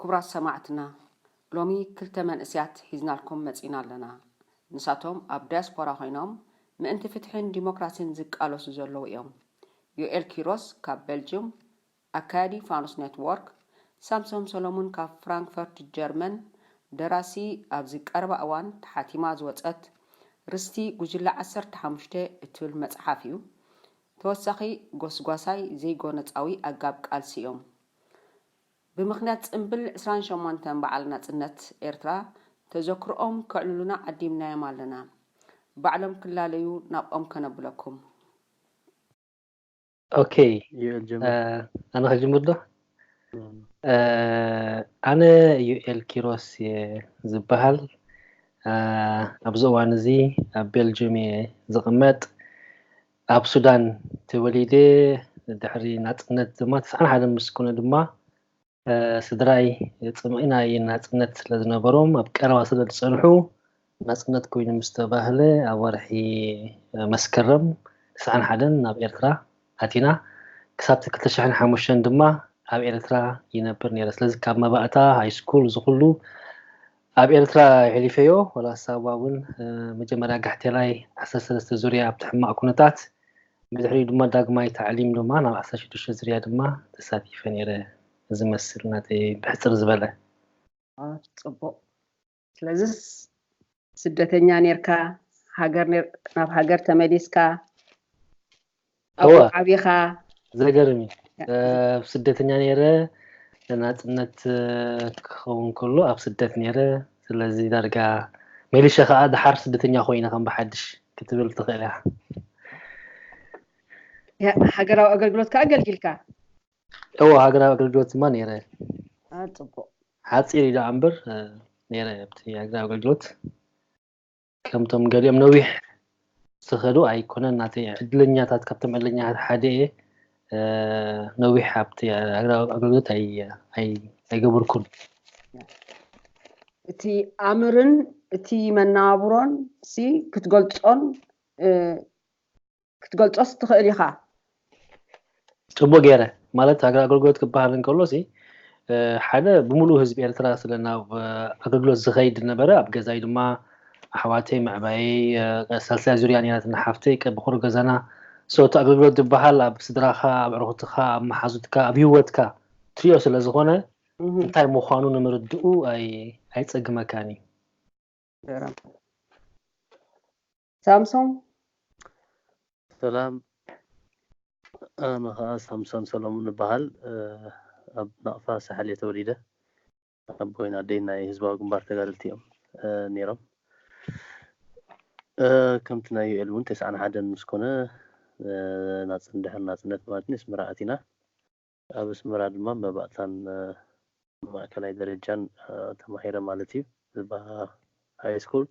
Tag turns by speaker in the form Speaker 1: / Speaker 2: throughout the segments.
Speaker 1: ኩቡራት ሰማዕትና ሎሚ ክልተ መንእስያት ሒዝናልኩም መጺና ኣለና ንሳቶም ኣብ ዳያስፖራ ኮይኖም ምእንቲ ፍትሒን ዲሞክራሲን ዝቃለሱ ዘለዉ እዮም ዮኤል ኪሮስ ካብ በልጅም ኣካያዲ ፋኑስ ኔትዎርክ ሳምሶም ሰሎሙን ካብ ፍራንክፈርት ጀርመን ደራሲ ኣብዚ ቀረባ እዋን ተሓቲማ ዝወጸት ርስቲ ጉጅለ ዓሰርተ ሓሙሽተ እትብል መጽሓፍ እዩ ተወሳኺ ጎስጓሳይ ዘይጎነጻዊ ኣጋብ ቃልሲ እዮም ብምኽንያት ጽምብል ዕስራን ሸሞንተን በዓል ናጽነት ኤርትራ ተዘክሮኦም ከዕልሉና ዓዲምናዮም ኣለና። ባዕሎም ክላለዩ ናብኦም ከነብለኩም።
Speaker 2: ኦኬ ዩኤል ጀምር ኣነ ክጅምር ዶ ኣነ ዩኤል ኪሮስ እየ ዝበሃል ኣብዚ እዋን እዚ ኣብ ቤልጅም እየ ዝቕመጥ ኣብ ሱዳን ተወሊደ ድሕሪ ናጽነት ድማ ትስዓን ሓደን ምስ ኮነ ድማ ስድራይ ጽምኢ ናይ ናጽነት ስለ ዝነበሮም ኣብ ቀረባ ስለ ዝጸንሑ ናጽነት ኮይኑ ምስ ተባህለ ኣብ ወርሒ መስከረም ትስዓን ሓደን ናብ ኤርትራ ኣቲና ክሳብቲ ክልተ ሽሕን ሓሙሽተን ድማ ኣብ ኤርትራ ይነብር ነይረ ስለዚ ካብ መባእታ ሃይስኩል ዝኹሉ ኣብ ኤርትራ ሒሊፈዮ ዋላ ሳዋ ውን መጀመርያ ጋሕቴላይ ዓሰርተ ሰለስተ ዙርያ ኣብቲ ሕማቕ ኩነታት ብድሕሪኡ ድማ ዳግማይ ታዕሊም ድማ ናብ ዓሰርተ ሽዱሽተ ዙርያ ድማ ተሳቲፈ ኔረ እዚ መስል ናተይ ብሕጽር ዝበለ። ኣፍ
Speaker 1: ጽቡቕ ስለዝስ ስደተኛ ኔርካ ሃገር ናብ ሃገር ተመሊስካ
Speaker 2: ኣብኡ እወ ዓቢኻ
Speaker 1: ዘገርም
Speaker 2: እዩ ኣብ ስደተኛ ነይረ ናጽነት ክኸውን ከሎ ኣብ ስደት ነይረ ስለዚ ዳርጋ ሜሊሸ ከዓ ድሓር ስደተኛ ኮይነ ከም ብሓድሽ ክትብል ትኽእል እያ ሃገራዊ
Speaker 1: ኣገልግሎት ከዓ ኣገልጊልካ እወ
Speaker 2: ሃገራዊ ኣገልግሎት ድማ ነይረ ኣ ጽቡቅ
Speaker 1: ሓፂር
Speaker 2: እዩ ደኣ እምበር ነይረ ኣብቲ ሃገራዊ ኣገልግሎት ከምቶም ገሊኦም ነዊሕ ዝኸዱ ኣይኮነን ናተይ ዕድለኛታት ካብቶም ዕድለኛታት ሓደ እየ ነዊሕ ኣብቲ ሃገራዊ ኣገልግሎት ኣይገበርኩን
Speaker 1: እቲ ኣምርን እቲ መናብሮን ሲ ክትገልፆን ክትገልጾስ ትኽእል ኢኻ።
Speaker 2: ጽቡቅ ጌረ ማለት ሃገራዊ ኣገልግሎት ክበሃል እንከሎሲ ሓደ ብምሉኡ ህዝቢ ኤርትራ ስለ ናብ ኣገልግሎት ዝኸይድ ዝነበረ ኣብ ገዛይ ድማ ኣሕዋተይ መዕባየይ ሳልሳይ ዙርያ ኔራትና ሓፍተይ ቀብኹሩ ገዛና so እቲ ኣገልግሎት ዝበሃል ኣብ ስድራኻ ኣብ ኣዕሩኹትካ ኣብ መሓዙትካ ኣብ ሂወትካ ትሪኦ ስለ ዝኾነ እንታይ ምዃኑ ንምርድኡ ኣይጸግመካን እዩ።
Speaker 3: ሳምሶም ሰላም ኣነ ከኣ ሳምሶን ሰለሙን እበሃል ኣብ ናቕፋ ሳሕል እየ ተወሊደ ኣቦይን ኣደይን ናይ ህዝባዊ ግንባር ተጋደልቲ እዮም ነይሮም ከምቲ ናይ ዩኤል እውን ተስዓን ሓደን ምስ ኮነ ናፅን ድሕሪ ናፅነት ማለት ንስምራ ኣቲና ኣብ ኣስመራ ድማ መባእታን ማእከላይ ደረጃን ተማሂረ ማለት እዩ። ዝባ ሃይስኩል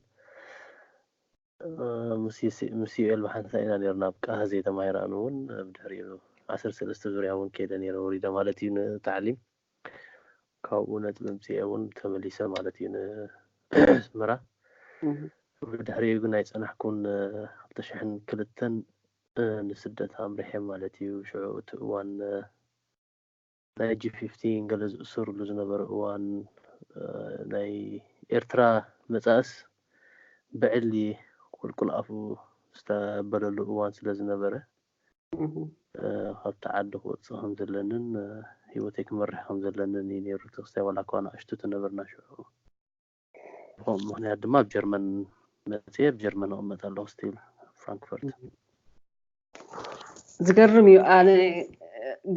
Speaker 3: ምስ ዩኤል ብሓንሳእ ኢና ኔርና ኣብ ቃሃዜ ተማሂረ ኣነ ውን ብድሕሪኡ ዓሰርተ ሰለስተ ዙርያ ውን ከይደ ኔረ ወሪደ ማለት እዩ ንታዕሊም ካብኡ ነጥቢ ኣምጺኤ ውን ተመሊሰ ማለት እዩ ንኣስመራ ብድሕሪኡ ግን ኣይጸናሕኩን ክልተ ሽሕን ክልተን ንስደት ኣምሪሐ ማለት እዩ ሽዑ እቲ እዋን ናይ ጂ ፊፍቲ ገለ ዝእሰሩሉ ዝነበረ እዋን ናይ ኤርትራ መጻእስ ብዕሊ ቁልቁል ኣፉ ዝተበለሉ እዋን ስለ ዝነበረ ካብቲ ዓዲ ክወጽእ ከም ዘለንን ሂወተይ ክመርሕ ከም ዘለንን እዩ ኔሩ እቲ ክስታይ ዋላኳ ንኣሽቱ ተነበርና ሽዑ ብኸምኡ ምኽንያት ድማ ኣብ ጀርመን መፅየ ኣብ ጀርመን እቕመጥ ኣለኹ ስቲል ኣብ ፍራንክፈርት
Speaker 1: ዝገርም እዩ ኣነ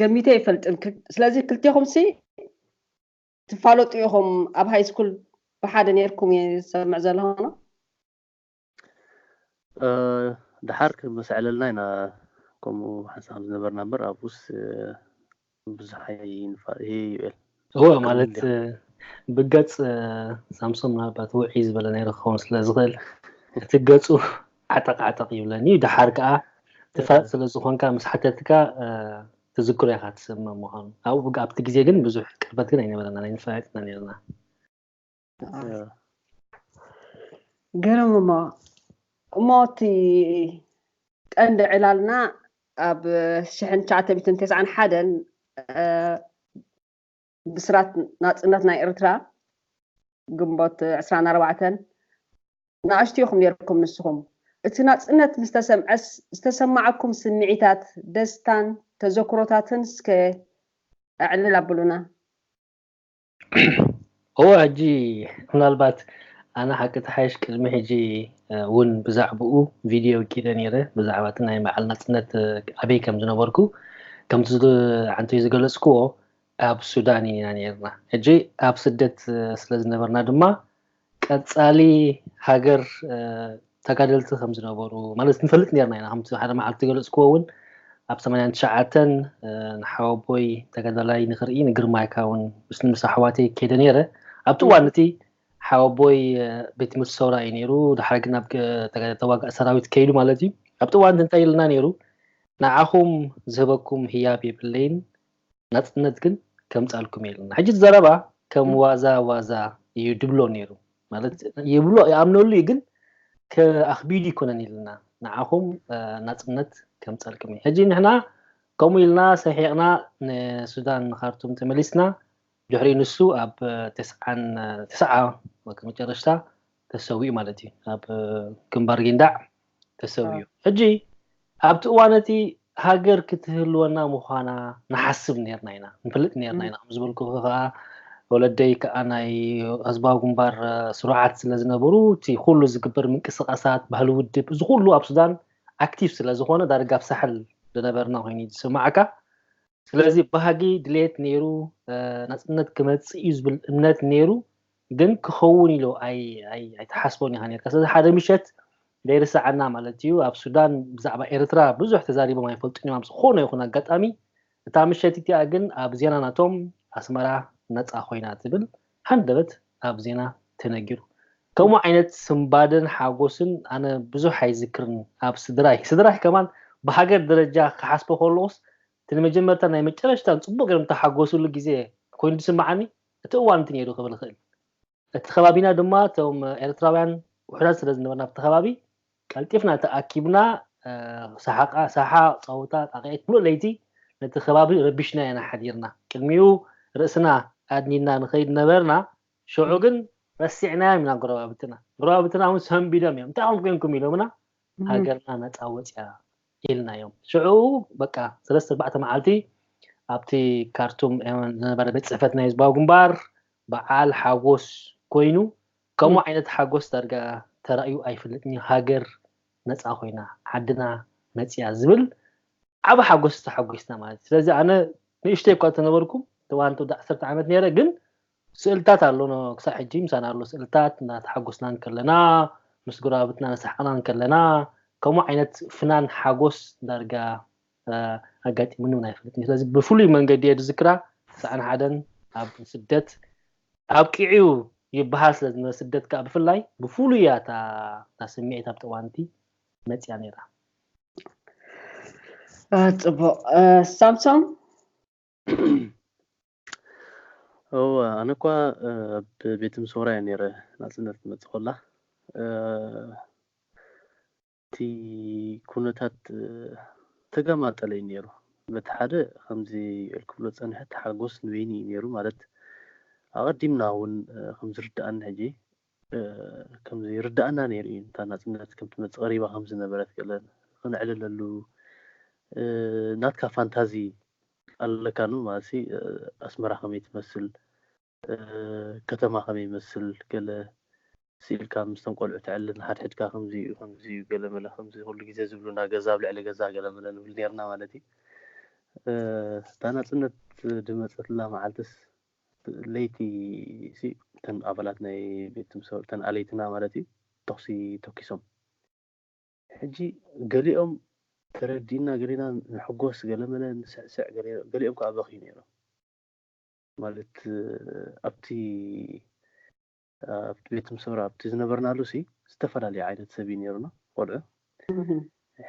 Speaker 1: ገሚተ ይፈልጥን ክል- ስለዚ ክልቴኹም ሲ ትፋለጡ ኢኹም ኣብ ሃይ ስኩል ብሓደ ነርኩም እየ ዝሰምዕ ዘለኹ
Speaker 3: ደሓር ክመሰዐለልና ኢና ከምኡ ሓንሳብ ከም ዝነበርና እምበር ኣብኡስ ብዙሕ ኣይንፋ ይሄ ዩኤል እወ ማለት
Speaker 2: ብገጽ ሳምሶን ምናልባት ውዕይ ዝበለ ነይሩ ክኸውን ስለ ዝኽእል እቲ ገጹ ዓጠቕ ዓጠቕ ይብለኒ እዩ ደሓር ከዓ ትፋጥ ስለ ዝኾንካ ምስ ሓተትካ ትዝክሮ ኢኻ ትስምም ምዃኑ ኣብኡ ኣብቲ ግዜ ግን ብዙሕ ቅርበት ግን ኣይነበረና ኣይንፈላለጥ ኢና ነርና
Speaker 1: ግርም እሞ እሞ እቲ ቀንዲ ዕላልና ኣብ ሽሕን ትሽዓተ ሚትን ተስዓን ሓደን ብስራት ናፅነት ናይ ኤርትራ ግንቦት ዕስራን ኣርባዕተን ንኣሽቱ ኢኹም ነርኩም ንስኹም እቲ ናፅነት ምስ ተሰምዐስ ዝተሰማዓኩም ስምዒታት ደስታን ተዘክሮታትን እስከ ኣዕልል ኣብሉና
Speaker 2: እወ ሕጂ ምናልባት ኣነ ሓቂ ተሓይሽ ቅድሚ ሕጂ እውን ብዛዕባኡ ቪድዮ ኪደ ነይረ ብዛዕባ እቲ ናይ በዓል ናጽነት ኣበይ ከም ዝነበርኩ ከምቲ ዓንተይ ዝገለጽክዎ ኣብ ሱዳን ኢና ነርና ሕጂ ኣብ ስደት ስለ ዝነበርና ድማ ቀጻሊ ሃገር ተጋደልቲ ከም ዝነበሩ ማለት ንፈልጥ ኔርና ኢና ከምቲ ሓደ መዓልቲ ዝገለጽክዎ ውን ኣብ ሰማንያን ትሽዓተን ንሓወቦይ ተጋዳላይ ንክርኢ ንግርማይካ ውን ምስ ምስ ኣሕዋተይ ከይደ ኔረ ኣብቲ እዋን እቲ ሓወቦይ ቤት ትምህርቲ ሰውራ እዩ ኔሩ ድሓር ግን ኣብ ተጋዳላይ ተዋጋእ ሰራዊት ከይዱ ማለት እዩ ኣብቲ እዋን እንታይ ኢልና ኔሩ ንዓኹም ዝህበኩም ህያብ የብለይን ናጽነት ግን ከምጻልኩም የልና ሕጂ እቲ ዘረባ ከም ዋዛ ዋዛ ኢዩ ድብሎ ኔሩ ማለት ይብሎ ይኣምነሉ ኢዩ ግን ኣኽቢዱ ኣይኮነን ኢልና ንዓኹም ናጽነት ከምጻልኩም ኢዩ ሕጂ ንሕና ከምኡ ኢልና ሰሒቕና ንሱዳን ንኻርቱም ተመሊስና ድሕሪ ንሱ ኣብ ተስዓን ተስዓ መጨረሽታ ተሰዊኡ ማለት እዩ ኣብ ግንባር ጊንዳዕ ተሰዊኡ ሕጂ ኣብቲ እዋን እቲ ሃገር ክትህልወና ምዃና ንሓስብ ነርና ኢና ንፈልጥ ነርና ኢና ከምዝበልኩ ከዓ ወለደይ ከዓ ናይ ህዝባዊ ግንባር ስሩዓት ስለ ዝነበሩ እቲ ኩሉ ዝግበር ምንቅስቃሳት ባህሊ ውድብ እዚ ኩሉ ኣብ ሱዳን ኣክቲቭ ስለ ዝኾነ ዳርጋ ኣብ ሳሕል ዝነበርና ኮይኑ ዝስማዓካ ስለዚ ባህጊ ድሌት ነይሩ ናፅነት ክመፅእ እዩ ዝብል እምነት ነይሩ ግን ክኸውን ኢሎ ኣይትሓስቦን ኢኻ ኔርካ ስለዚ ሓደ ምሸት ዘይርሰዓና ማለት እዩ ኣብ ሱዳን ብዛዕባ ኤርትራ ብዙሕ ተዛሪቦም ኣይፈልጡን እዮም ኣብ ዝኾነ ይኹን ኣጋጣሚ እታ ምሸት እቲኣ ግን ኣብ ዜና ናቶም ኣስመራ ነፃ ኮይና ትብል ሃንደበት ኣብ ዜና ተነጊሩ ከምኡ ዓይነት ስንባደን ሓጎስን ኣነ ብዙሕ ኣይዝክርን ኣብ ስድራይ ስድራይ ከማን ብሃገር ደረጃ ክሓስቦ ከለኹስ እቲ ንመጀመርታ ናይ መጨረሽታን ፅቡቕ ገይሮም ተሓጎስሉ ግዜ ኮይኑ ዝስምዓኒ እቲ እዋን እቲ ነይሩ ክብል እኽእል። እቲ ከባቢና ድማ እቶም ኤርትራውያን ውሑዳት ስለ ዝነበርና ኣብቲ ከባቢ ቀልጢፍና ተኣኪብና ሳሓቓ ሳሓ ጸወታ ጣቕዒት ምሉእ ለይቲ ነቲ ከባቢ ረቢሽና ኢና ሓዲርና። ቅድሚኡ ርእስና ኣድኒና ንኸይድ ነበርና ሸዑ ግን ረሲዕናዮም ኢና ጎረባብትና። ጎረባብትና እውን ሰንቢዶም እዮም እንታይ ኹም ኮንኩም ኢሎምና ሃገርና ነጻ ወጺኣ ኢልናዮም። ሽዑ በቃ ሰለስተ ኣርባዕተ መዓልቲ ኣብቲ ካርቱም ዝነበረ ቤት ጽሕፈት ናይ ህዝባዊ ግንባር በዓል ሓጎስ ኮይኑ ከምኡ ዓይነት ሓጎስ ዳርጋ ተራእዩ ኣይፈልጥን እዩ ሃገር ነጻ ኮይና ዓድና መጺኣ ዝብል ዓቢ ሓጎስ ተሓጒስና ማለት እዩ። ስለዚ ኣነ ንእሽተይ እኳ እንተነበርኩ እዋን ወዲ ዓሰርተ ዓመት ነይረ ግን ስእልታት ኣሎ ክሳብ ሕጂ ምሳና ኣሎ ስእልታት እናተሓጎስና እንከለና ምስ ጎረባብትና እናሰሓቕና እንከለና ከምኡ ዓይነት ፍናን ሓጎስ ዳርጋ ኣጋጢሙኒ እውን ኣይፈልጥን ስለዚ ብፍሉይ መንገዲ እየ ዝዝክራ ሳዕን ሓደን ኣብ ስደት ኣብቂዑ ይበሃል ስለ ዝነበረ ስደት ከዓ ብፍላይ ብፍሉይ እያ እታ ስምዒት ኣብቲ እዋንቲ መፅያ ነይራ
Speaker 1: ፅቡቕ ሳምሶም
Speaker 3: እወ ኣነ እኳ ኣብ ቤት ምሶራ እየ ነይረ ናጽነት ትመጽእ ኮላ እቲ ኩነታት ተጋማጠለ እዩ ነይሩ በቲ ሓደ ከምዚ እልክብሎ ጸንሐ ተሓጎስ ንበይኒ እዩ ነይሩ ማለት ኣቐዲምና እውን ከምዝርዳእኒ ሕጂ ከም ዘይርድኣና ነይሩ እዩ። እታ ናጽነት ከም ትመጽእ ቀሪባ ከም ዝነበረት ገለ ክነዕልለሉ ናትካ ፋንታዚ ኣለካ ን ማለትሲ ኣስመራ ከመይ ትመስል ከተማ ከመይ ይመስል ገለ ስኢልካ ምስቶም ቆልዑ ተዕልል ንሓድሕድካ ከምዚ እዩ ከምዚ እዩ ገለ መለ ከምዚ ኩሉ ግዜ ዝብሉና ገዛ ኣብ ልዕሊ ገዛ ገለ መለ ንብል ነርና ማለት እዩ። እታ ናጽነት ድመጸትላ መዓልትስ ለይቲ'ሲ እተን ኣባላት ናይ ቤትሰብ እተን ኣለይትና ማለት እዩ ተኹሲ ተኪሶም ሕጂ ገሊኦም ተረዲእና ገሊና ንሕጎስ ገለመለ ንስዕስዕ ገሊኦም ከዓ በኽዩ ነይሮም ማለት ኣብቲ ኣብቲ ቤት ምሰውራ ኣብቲ ዝነበርናሉሲ ዝተፈላለየ ዓይነት ሰብ እዩ ኔሩና ቆልዑ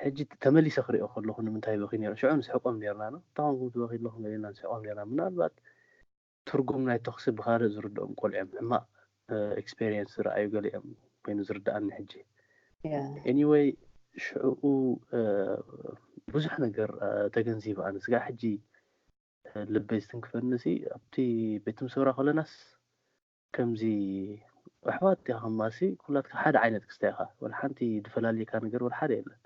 Speaker 3: ሕጂ ተመሊሰ ክሪኦ ከለኹ ንምንታይ ይበኽዩ ኔሮም ሽዑ ንስሕቆም ኔርና ን እንታይ ኮንኩም ትበኽዩ ኣለኹም ገሌና ንስሕቆም ኔርና ምናልባት ትርጉም ናይ ተኹሲ ብኻልእ ዝርድኦም ቆልዑ እዮም ሕማቕ ኤክስፔሪየንስ ዝረኣዩ ገሊኦም ኮይኑ ዝርድኣኒ ሕጂ ኤኒወይ ሽዑኡ ብዙሕ ነገር ተገንዚበ ኣነ ስጋ ሕጂ ልበይ ዝትንክፈኒ ሲ ኣብቲ ቤት ምሰውራ ከለናስ ከምዚ ኣሕዋት ዲኻማሲ ኩላትካ ሓደ ዓይነት ክስታይ ኢኻ ወላ ሓንቲ ድፈላልየካ ነገር ወላ ሓደ የለን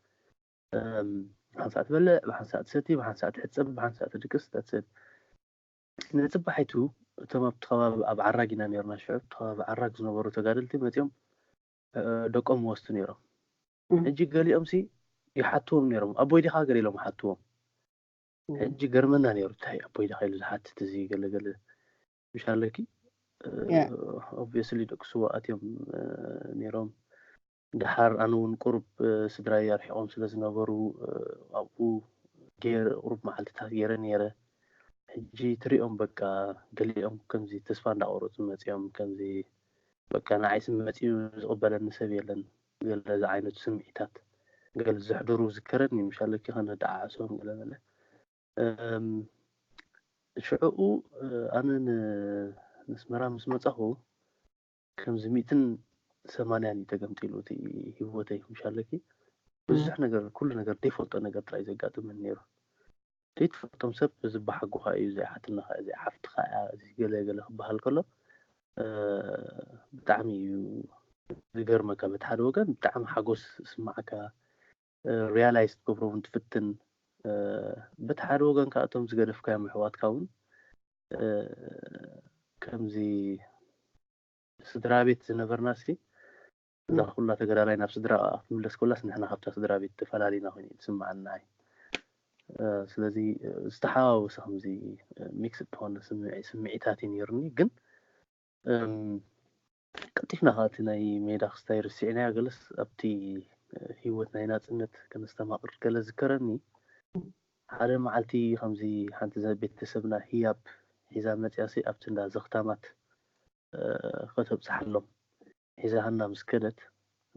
Speaker 3: ብሓንሳእ ትበልዕ ብሓንሳእ ትሰቲ ብሓንሳእ ትሕጸብ ብሓንሳእ ትድቅስ that's it ንጽባሒቱ እቶም ኣብቲ ከባቢ ኣብ ዓራግ ኢና ነርና ሽዑ ኣብቲ ከባቢ ዓራግ ዝነበሩ ተጋደልቲ መጺኦም ደቆም ወስቱ ነሮም ሕጂ ገሊኦምሲ ይሓትዎም ነሮም ኣቦይ ዲኻ ገለ ኢሎም ሓትዎም ሕጂ ገርመና ነሩ እንታይ ኣቦይ ዲኻ ኢሉ ዝሓትት እዚ ገለገለ ምሻለኪ ኦብስሊ ደቂ ስዋ ኣትዮም ነይሮም ድሓር ኣነ እውን ቁሩብ ስድራይ ኣርሒቆም ስለ ዝነበሩ ኣብኡ ገይረ ቁሩብ መዓልትታት ገይረ ነይረ ሕጂ ትሪኦም በቃ ገሊኦም ከምዚ ተስፋ እንዳቆረፁ መፂኦም ከምዚ በቃ ንዓይ ስም መፂኡ ዝቕበለኒ ሰብ የለን ገለ ዝዓይነቱ ስምዒታት ገለ ዘሕድሩ ዝከረኒ ምሻለኪ ከነደዓዕሶም ገለ በለ ሽዕኡ ኣነ ንኣስመራ ምስ መጻኹ ከምዚ ሚእትን ሰማንያን እዩ ተገምጢሉ እቲ ህይወተይ ምሻለኪ ብዙሕ ነገር ኩሉ ነገር ደይፈልጦ ነገር ጥራይ ዘጋጥመን ነይሩ ዘይትፈልጦም ሰብ እዚ በሓጎኻ እዩ እዚ ሓትንኻ እዚ ሓፍትኻ እያ እዚ ገለ ገለ ክበሃል ከሎ ብጣዕሚ እዩ ዝገርመካ በቲ ሓደ ወገን ብጣዕሚ ሓጎስ ስማዓካ ርያላይዝ ክትገብሮ ውን ትፍትን በቲ ሓደ ወገን ከዓ እቶም ዝገደፍካዮም ኣሕዋትካ ውን ከምዚ ስድራ ቤት ዝነበርና ሲ እዛ ኩላ ተገዳላይ ናብ ስድራ ክትምለስ ኮላስ ንሕና ካብታ ስድራ ቤት ተፈላሊና ኮይኑ እዩ ዝስምዓና እዩ ስለዚ ዝተሓዋወሰ ከምዚ ሚክስ እትኾነ ስምዒታት እዩ ነይሩኒ ግን ቀልጢፍና ከኣ እቲ ናይ ሜዳ ክስታይ ረሲዕናዮ ገለስ ኣብቲ ሂወት ናይ ናጽነት ከነስተማቅር ገለ ዝከረኒ ሓደ መዓልቲ ከምዚ ሓንቲ ዘ ቤተሰብና ሂያብ ሒዛ መጽያሲ ኣብቲ እንዳ ዘኽታማት ከተብጽሓሎም ሒዛሃና ምስ ከደት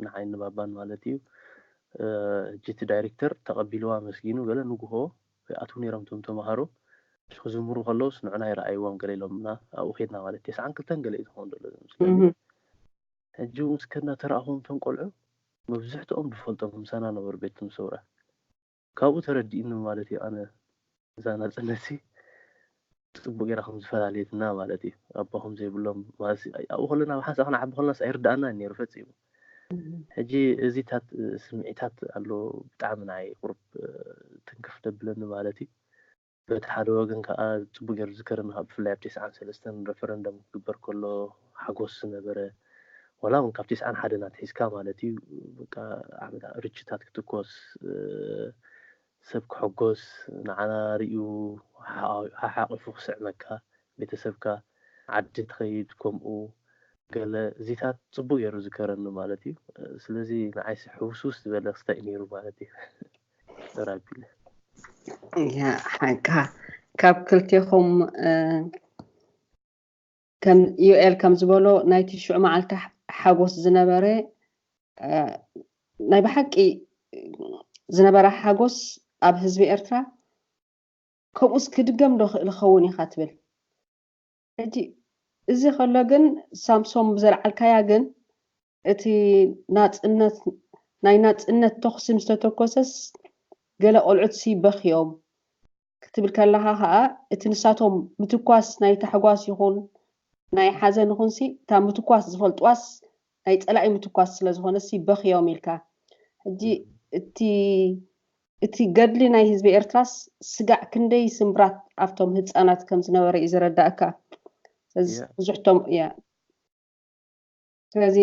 Speaker 3: ንዓይን ንባባን ማለት እዩ። ሕጂ እቲ ዳይሬክተር ተቐቢልዋ ኣመስጊኑ ገለ ንጉሆ ይኣትዉ ነይሮም እቶም ተመሃሮ። ክዝምሩ ከለዉስ ንዑና ይርኣይዎም ገለ ኢሎምና ኣብኡ ከድና ማለት እዩ። ተስዓን ክልተን ገለ እዩ ዝኸውን ዘሎ ዝመስለኒ። ሕጂ ኣብኡ ምስ ከድና ተራእኹዎም እቶም ቆልዑ መብዝሕትኦም ንፈልጦም ምሳና ነበሩ ቤት ትም ሰውራ። ካብኡ ተረዲእኒ ማለት እዩ ኣነ እዛ ናጽነትሲ ጽቡቅ ጌራ ከም ዝፈላለየትና ማለት እዩ ኣቦ ከም ዘይብሎም ማለትሲ ኣብኡ ከለና ኣብ ሓንሳእ ክንዓቢ ከለናስ ኣይርድኣናን ኔሩ ፈጺሙ ሕጂ እዚታት ስምዒታት ኣሎ ብጣዕሚ ንዓይ ቁሩብ ትንክፍ ደብለኒ ማለት እዩ በቲ ሓደ ወገን ከኣ ጽቡቕ ጌሩ ዝዝከርን ከኣ ብፍላይ ኣብ ቴስዓን ሰለስተን ረፈረንደም ክግበር ከሎ ሓጎስ ዝነበረ ዋላ ውን ካብ ቴስዓን ሓደን ኣትሒዝካ ማለት እዩ በቃ ዓመታ ርችታት ክትኮስ ሰብ ክሕጎስ ንዓና ርእዩ ሓሓቂፉ ክስዕመካ ቤተሰብካ ዓዲ ትኸይድ ከምኡ ገለ እዚታት ጽቡቕ ጌሩ ዝዝከረኒ ማለት እዩ ስለዚ ንዓይሲ ሕውስውስ ዝበለ ክስታይ እዩ ኔሩ ማለት እዩ።
Speaker 1: ሓንካ ካብ ክልቴኹም ከም ዩኤል ከም ዝበሎ ናይ ትሽዑ መዓልቲ ሓጎስ ዝነበረ ናይ ብሓቂ ዝነበረ ሓጎስ ኣብ ህዝቢ ኤርትራ ከምኡስ ክድገም ዶ ክእል ኸውን ኢኻ ትብል ሕጂ እዚ ከሎ ግን ሳምሶም ብዘልዓልካያ ግን እቲ ናጽነት ናይ ናጽነት ተኹሲ ምስ ተተኮሰስ ገለ ቆልዑትሲ በኽዮም ክትብል ከለኻ ከኣ እቲ ንሳቶም ምትኳስ ናይ ታሕጓስ ይኹን ናይ ሓዘን ይኹንሲ እታ ምትኳስ ዝፈልጥዋስ ናይ ጸላኢ ምትኳስ ስለ ዝኾነሲ በኽዮም ኢልካ ሕጂ እቲ እቲ ገድሊ ናይ ህዝቢ ኤርትራስ ስጋዕ ክንደይ ስምብራት ኣብቶም ህጻናት ከም ዝነበረ እዩ ዝረዳእካ ስለዚ Yeah. ብዙሕቶም እያ ስለዚ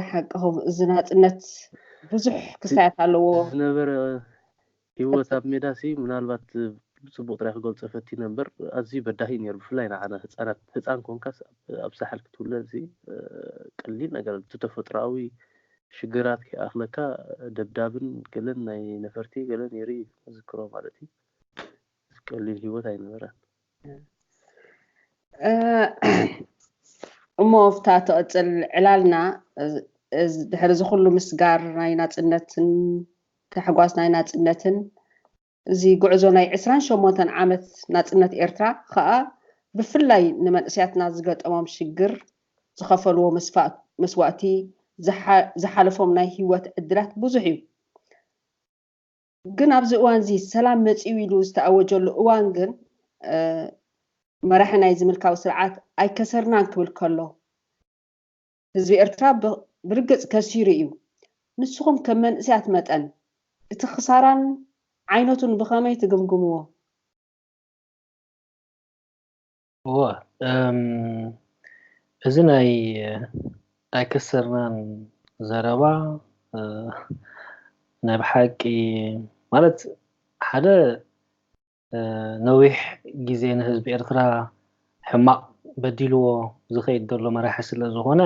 Speaker 1: ሓቅኹም እዚ ናጽነት ብዙሕ ክስታያት ኣለዎ እቲ ዝነበረ
Speaker 3: ሂወት ኣብ ሜዳሲ ምናልባት ብጽቡቕ ጥራይ ክገልጾ ፈቲነ እምበር ኣዝዩ በዳሂ እዩ ነይሩ ብፍላይ ንዓና ህጻናት ህጻን ኮንካስ ኣብ- ኣብ ሳሕል ክትውለድሲ ቀሊል ነገር እቲ ተፈጥሮኣዊ ሽግራት ከይኣኽለካ ደብዳብን ገለን ናይ ነፈርቲ ገለን ይርኢ እዩ ዝዝክሮ ማለት እዩ እዚ ቀሊል ሂወት ኣይነበረን።
Speaker 1: እሞ ኣብታ ትቕጽል ዕላልና ድሕሪ እዚ ኩሉ ምስጋር ናይ ናጽነትን ታሕጓስ ናይ ናጽነትን እዚ ጉዕዞ ናይ ዕስራን ሸሞንተን ዓመት ናጽነት ኤርትራ ከኣ ብፍላይ ንመንእሰያትና ዝገጠሞም ሽግር፣ ዝኸፈልዎ መስዋእቲ፣ ዝሓለፎም ናይ ህይወት ዕድላት ብዙሕ እዩ። ግን ኣብዚ እዋንዚ ሰላም መጺኡ ኢሉ ዝተኣወጀሉ እዋን ግን መራሒ ናይዚ ምልካዊ ስርዓት ኣይከሰርናን ክብል ከሎ፣ ህዝቢ ኤርትራ ብርግጽ ከሲሩ እዩ። ንስኹም ከም መንእሰያት መጠን እቲ ክሳራን ዓይነቱን ብኸመይ ትግምግምዎ?
Speaker 2: እወ እም እዚ ናይ ኣይከሰርናን ዘረባ ናይ ብሓቂ ማለት ሓደ ነዊሕ ግዜ ንህዝቢ ኤርትራ ሕማቅ በዲልዎ ዝከይድ ዘሎ መራሒ ስለ ዝኮነ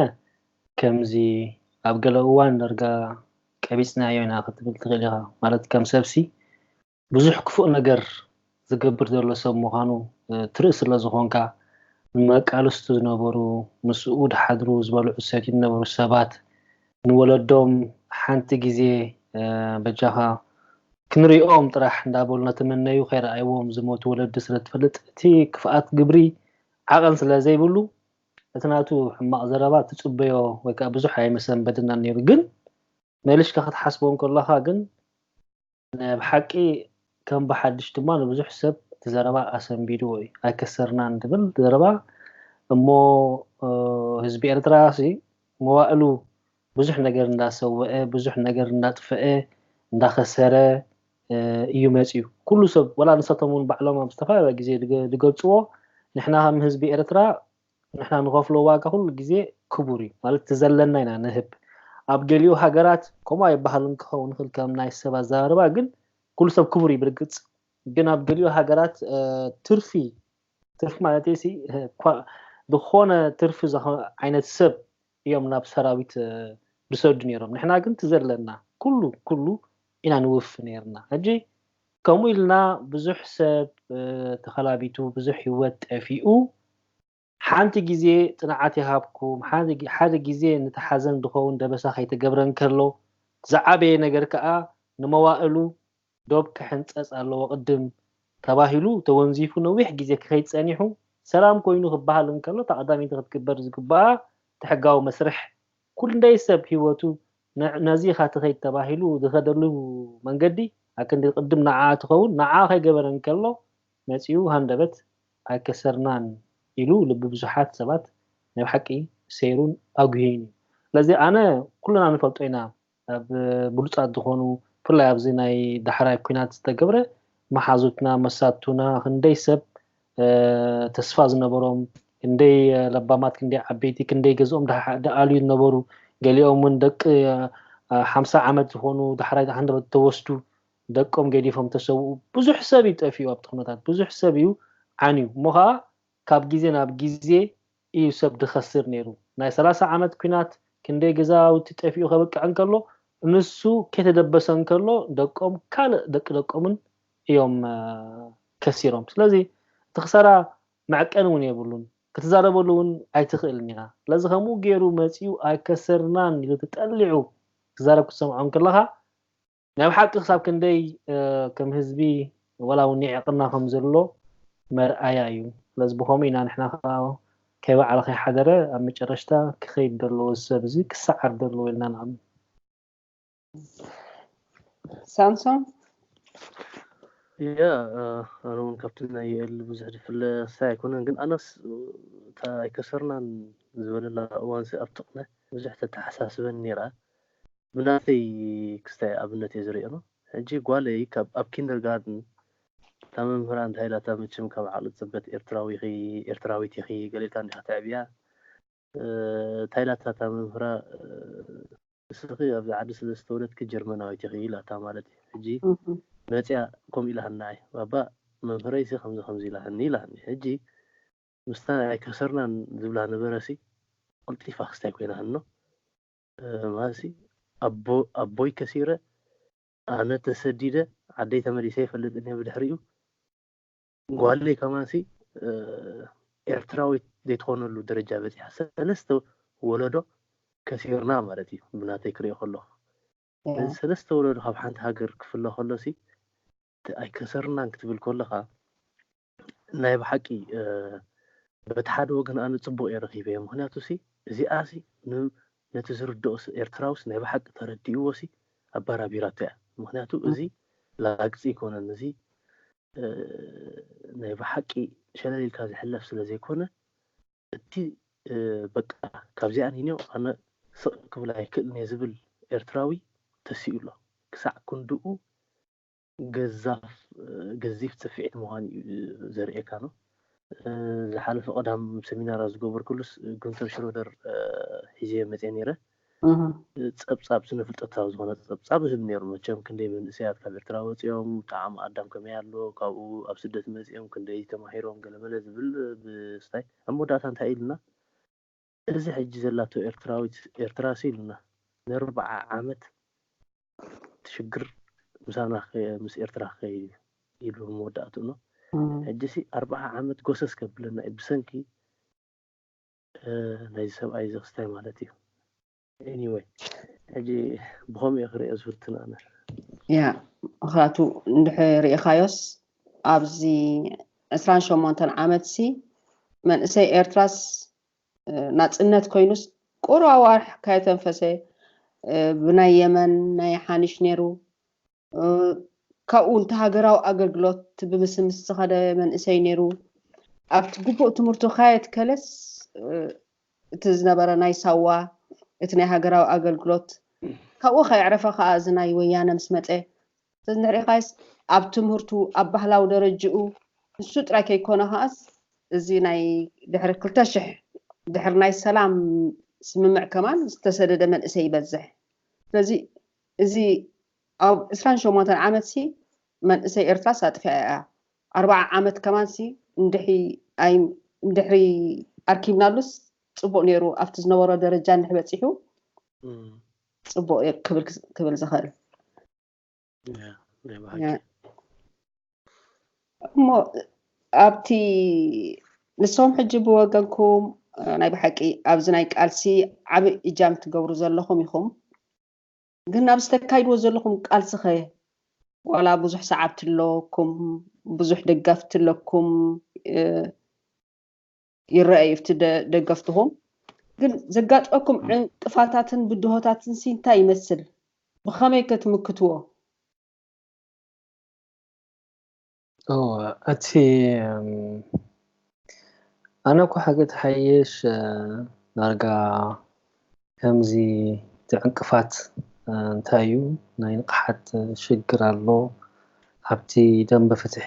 Speaker 2: ከምዚ ኣብ ገለ እዋን ደርጋ ቀቢጽናዮ ኢና ክትብል ትክእል ኢካ ማለት ከም ሰብሲ ብዙሕ ክፉእ ነገር ዝገብር ዘሎ ሰብ ምካኑ ትርኢ ስለ ዝኮንካ ንመቃልስቱ ዝነበሩ ምስ ኡድ ሓድሩ ዝበልዑ ዝሰትዩ ዝነበሩ ሰባት ንወለዶም ሓንቲ ግዜ በጃኻ ክንሪኦም ጥራሕ እንዳበሉ እናተመነዩ ከይረኣይዎም ዝሞቱ ወለዲ ስለትፈልጥ እቲ ክፍኣት ግብሪ ዓቐን ስለዘይብሉ እቲ ናቱ ሕማቕ ዘረባ ትጽበዮ ወይከኣ ብዙሕ ኣይምሰንበደናን ኔሩ ግን መልሽካ ክትሓስቦ እንከለኻ ግን ናይ ብሓቂ ከም ብሓድሽ ድማ ንብዙሕ ሰብ እቲ ዘረባ ኣሰንቢድዎ እዩ። ኣይከሰርናን ትብል ዘረባ እሞ ህዝቢ ኤርትራ ሲ መዋእሉ ብዙሕ ነገር እንዳሰወኤ ብዙሕ ነገር እንዳጥፈኤ እንዳኸሰረ እዩ መጺኡ ኩሉ ሰብ ወላ ንሳቶም ውን ባዕሎም ኣብ ዝተፈላለየ ግዜ ድገልጽዎ ንሕና ከም ህዝቢ ኤርትራ ንሕና ንኸፍሎ ዋጋ ኩሉ ግዜ ክቡር እዩ ማለት እቲ ዘለና ኢና ንህብ ኣብ ገሊኡ ሃገራት ከምኡ ኣይበሃልን ክኸውን ይኽእል ከም ናይ ሰብ ኣዘራርባ ግን ኩሉ ሰብ ክቡር እዩ ብርግጽ ግን ኣብ ገሊኡ ሃገራት ትርፊ ትርፊ ማለት ሲ ዝኾነ ትርፊ ዓይነት ሰብ እዮም ናብ ሰራዊት ድሰዱ ነይሮም ንሕና ግን ትዘለና ኩሉ ኩሉ ኢና ንውፍ ነይርና ሕጂ ከምኡ ኢልና ብዙሕ ሰብ ተኸላቢቱ ብዙሕ ህይወት ጠፊኡ ሓንቲ ግዜ ጽንዓት ይሃብኩም ሓደ ግዜ ንተሓዘን ድኸውን ደበሳ ከይተገብረ እንከሎ ዝዓበየ ነገር ከኣ ንመዋእሉ ዶብ ክሕንጸጽ ኣለዎ ቅድም ተባሂሉ ተወንዚፉ ነዊሕ ግዜ ክኸይድ ጸኒሑ ሰላም ኮይኑ ክበሃል እንከሎ እታ ቀዳመይቲ ክትግበር ዝግብኣ እቲ ሕጋዊ መስርሕ ኩንደይ ሰብ ሂወቱ ነዚ ኢኻ ትኸይድ ተባሂሉ ዝኸደሉ መንገዲ ኣክንዲ ቅድም ንዓኣ ትኸውን ንዓኣ ከይገበረ እንከሎ መጺኡ ሃንደበት ኣይከሰርናን ኢሉ ልቢ ብዙሓት ሰባት ናይ ብሓቂ ሰይሩን ኣጉህዩን እዩ ስለዚ ኣነ ኩልና ንፈልጦ ኢና ኣብ ብሉጻት ዝኾኑ ብፍላይ ኣብዚ ናይ ዳሕራይ ኩናት ዝተገብረ ማሓዙትና መሳቱና ክንደይ ሰብ ተስፋ ዝነበሮም ክንደይ ለባማት ክንደይ ዓበይቲ ክንደይ ገዝኦም ድኣልዩ ዝነበሩ ገሊኦም ውን ደቂ ሓምሳ ዓመት ዝኾኑ ዳሕራይ ሃንደበት ተወስዱ ደቆም ገዲፎም ተሰውኡ ብዙሕ ሰብ እዩ ጠፊኡ ኣብቲ ኩነታት ብዙሕ ሰብ እዩ ዓንዩ እሞ ከኣ ካብ ግዜ ናብ ግዜ ኢዩ ሰብ ድከስር ኔሩ ናይ ሰላሳ ዓመት ኩናት ክንደይ ገዛውቲ ጠፊኡ ከብቅዕ እንከሎ ንሱ ከይተደበሰ እንከሎ ደቆም ካልእ ደቂ ደቆምን ኢዮም ከሲሮም ስለዚ እቲ ክሳራ መዕቀኒ ውን የብሉን ክትዛረበሉ ውን ኣይትክእልን ኢካ ስለዚ ከምኡ ጌሩ መጺኡ ኣይከሰርናን ኢሉ ተጠሊዑ ክዛረብ ክትሰምዖ እንክለካ ናይ ብሓቂ ክሳብ ክንደይ ከም ህዝቢ ወላ ውን ይዕቅና ከም ዘሎ መርኣያ እዩ ስለዚ ብከምኡ ኢና ንሕና ከኣ ከይ ወዓለ ከይ ሓደረ ኣብ መጨረሽታ ክከይድ ደለዎ እዚ ሰብ እዚ ክሰዓር ደለዎ ኢልና ንኣምን
Speaker 1: ሳምሶን
Speaker 3: ያ ኣነ እውን ካብቲ ናይ የእል ብዙሕ ዝፍለ ክሳይ ኣይኮነን ግን ኣነስ እታ ኣይከሰርናን ዝበለላ እዋንሲ ኣብ ጥቕነ ብዙሕ ተተሓሳስበን ነይራ ብናተይ ክስታይ ኣብነት እየ ዝሪኦ ሕጂ ጓለይ ካብ ኣብ ኪንደር ጋርድን እታ መምህራ እንታይ ኢላታ መቸም ካብ ዓቅሊ ጽበት ኤርትራዊ ኢኺ ኤርትራዊት ኢኺ ገሌታ እንዲኻ ተዕብያ እንታይ ኢላታ እታ መምህራ ንስኺ ኣብዚ ዓዲ ስለ ዝተወለድኪ ጀርመናዊት ኢኺ ኢላታ ማለት እዩ ሕጂ መጽያ ከምኡ ኢላሃና ኣይ ባባ መምህረይሲ ከምዚ ከምዚ ኢላሃኒ ኢላሃኒ ሕጂ ምስታ ኣይከሰርናን ዝብላ ነበረሲ ቁልጢፋ ክስታይ ኮይና ሃኖ ማሲ ኣቦ ኣቦይ ከሲረ ኣነ ተሰዲደ ዓደይ ተመሊሰ ኣይፈልጥን እየ ብድሕሪኡ ጓለይ ከማንሲ ኤርትራዊት ዘይትኾነሉ ደረጃ በጺሓ ሰለስተ ወለዶ ከሲርና ማለት እዩ ብናተይ ክሪኦ ከለኹ ነዚ ሰለስተ ወለዶ ካብ ሓንቲ ሃገር ክፍለ ከሎሲ ኣይከሰርናን ክትብል ከለኻ ናይ ብሓቂ በቲ ሓደ ወገን ኣነ ጽቡቕ እየ ረኺበዮ ምኽንያቱ ሲ እዚኣ ሲ ነቲ ዝርድኦ ኤርትራዊ ሲ ናይ ብሓቂ ተረዲእዎ ሲ ኣባራቢራቶ እያ ምኽንያቱ እዚ ላግጺ ኣይኮነን እዚ ናይ ብሓቂ ሸለል ኢልካ ዝሕለፍ ስለ ዘይኮነ እቲ በቃ ካብዚኣ ኒንዮ ኣነ ስቕ ክብል ኣይክእልን እየ ዝብል ኤርትራዊ ተሲኡ ኣሎ ክሳዕ ክንድኡ ገዛፍ ገዚፍ ጽፊዒት ምዃኑ እዩ ዘርእየካ ነው። ዝሓለፈ ቀዳም ሰሚናር ኣብ ዝገበርኩሉስ ጉንተር ሽሮደር ሒዘዮ መጽየ ነይረ ጸብጻብ ስነ ፍልጠታዊ ዝኾነ ጸብጻብ ዝህብ ነይሩ መቸም ክንደይ መንእሰያት ካብ ኤርትራ ወፂኦም ጣዕሚ ኣዳም ከመይ ኣሎ ካብኡ ኣብ ስደት መፂኦም ክንደይ ተማሂሮም ገለመለ ዝብል ብስታይ ኣብ መወዳእታ እንታይ ኢልና እዚ ሕጂ ዘላቶ ኤርትራዊት ኤርትራሲ ኢሉና ነርብዓ ዓመት ትሽግር ምሳና ምስ ኤርትራ ክከይድ እዩ ኢሉ መወዳእትኡኖ ሕጂሲ ኣርብዓ ዓመት ጎሰስ ከብለና እዩ ብሰንኪ ናይዚ ሰብኣይ እዚ ክስታይ ማለት እዩ Anyway ሕጂ ብኸምኡ እየ ክርእዮ ዝፍትን ኣነ። ያ
Speaker 1: ምኽንያቱ እንድሕር ርኢኻዮስ ኣብዚ ዕስራን ሸሞንተን ዓመትሲ መንእሰይ ኤርትራስ ናጽነት ኮይኑስ ቁሩብ ኣዋርሕ ካየተንፈሰ ብናይ የመን ናይ ሓኒሽ ነይሩ ካብኡ ውን ሃገራዊ ኣገልግሎት ብምስምስ ዝኸደ መንእሰይ ነይሩ። ኣብቲ ግቡእ ትምህርቱ ካየትከለስ እቲ ዝነበረ ናይ ሳዋ እቲ ናይ ሃገራዊ ኣገልግሎት ካብኡ ከየዕረፈ ከኣ እዚ ናይ ወያነ ምስ መጸ ተዝንርኢኻይስ ኣብ ትምህርቱ ኣብ ባህላዊ ደረጅኡ ንሱ ጥራይ ከይኮነ ከኣስ እዚ ናይ ድሕሪ ክልተ ሽሕ ድሕሪ ናይ ሰላም ስምምዕ ከማን ዝተሰደደ መንእሰይ ይበዝሕ። ስለዚ እዚ ኣብ ዕስራን ሸሞንተን ዓመት ሲ መንእሰይ ኤርትራስ ኣጥፊኣ እያ ኣርብዓ ዓመት ከማን ሲ እንድሕይ ኣይ እንድሕሪ ኣርኪብናሉስ ጽቡቅ ኔሩ ኣብቲ ዝነበሮ ደረጃ እንድሕ በጺሑ ጽቡቅ እየ ክብል ክብል ዝኽእል እሞ ኣብቲ ንሶም ሕጂ ብወገንኩም ናይ ብሓቂ ኣብዚ ናይ ቃልሲ ዓብ እጃም ትገብሩ ዘለኹም ኢኹም ግን ኣብዚ ተካይድዎ ዘለኹም ቃልስኸ ዋላ ብዙሕ ሰዓብቲ ኣለኩም ብዙሕ ደጋፍቲ ኣለኩም ይረአ እዩ እቲ ደገፍትኹም ግን ዘጋጥመኩም ዕንቅፋታትን ብድሆታትን ሲ እንታይ ይመስል ብኸመይ ከ ትምክትዎ
Speaker 2: እቲ ኣነ እኮ ሓቂ ተሓይሽ ዳርጋ ከምዚ ትዕንቅፋት እንታይ እዩ ናይ ንቕሓት ሽግር ኣሎ ኣብቲ ደንበ ፍትሒ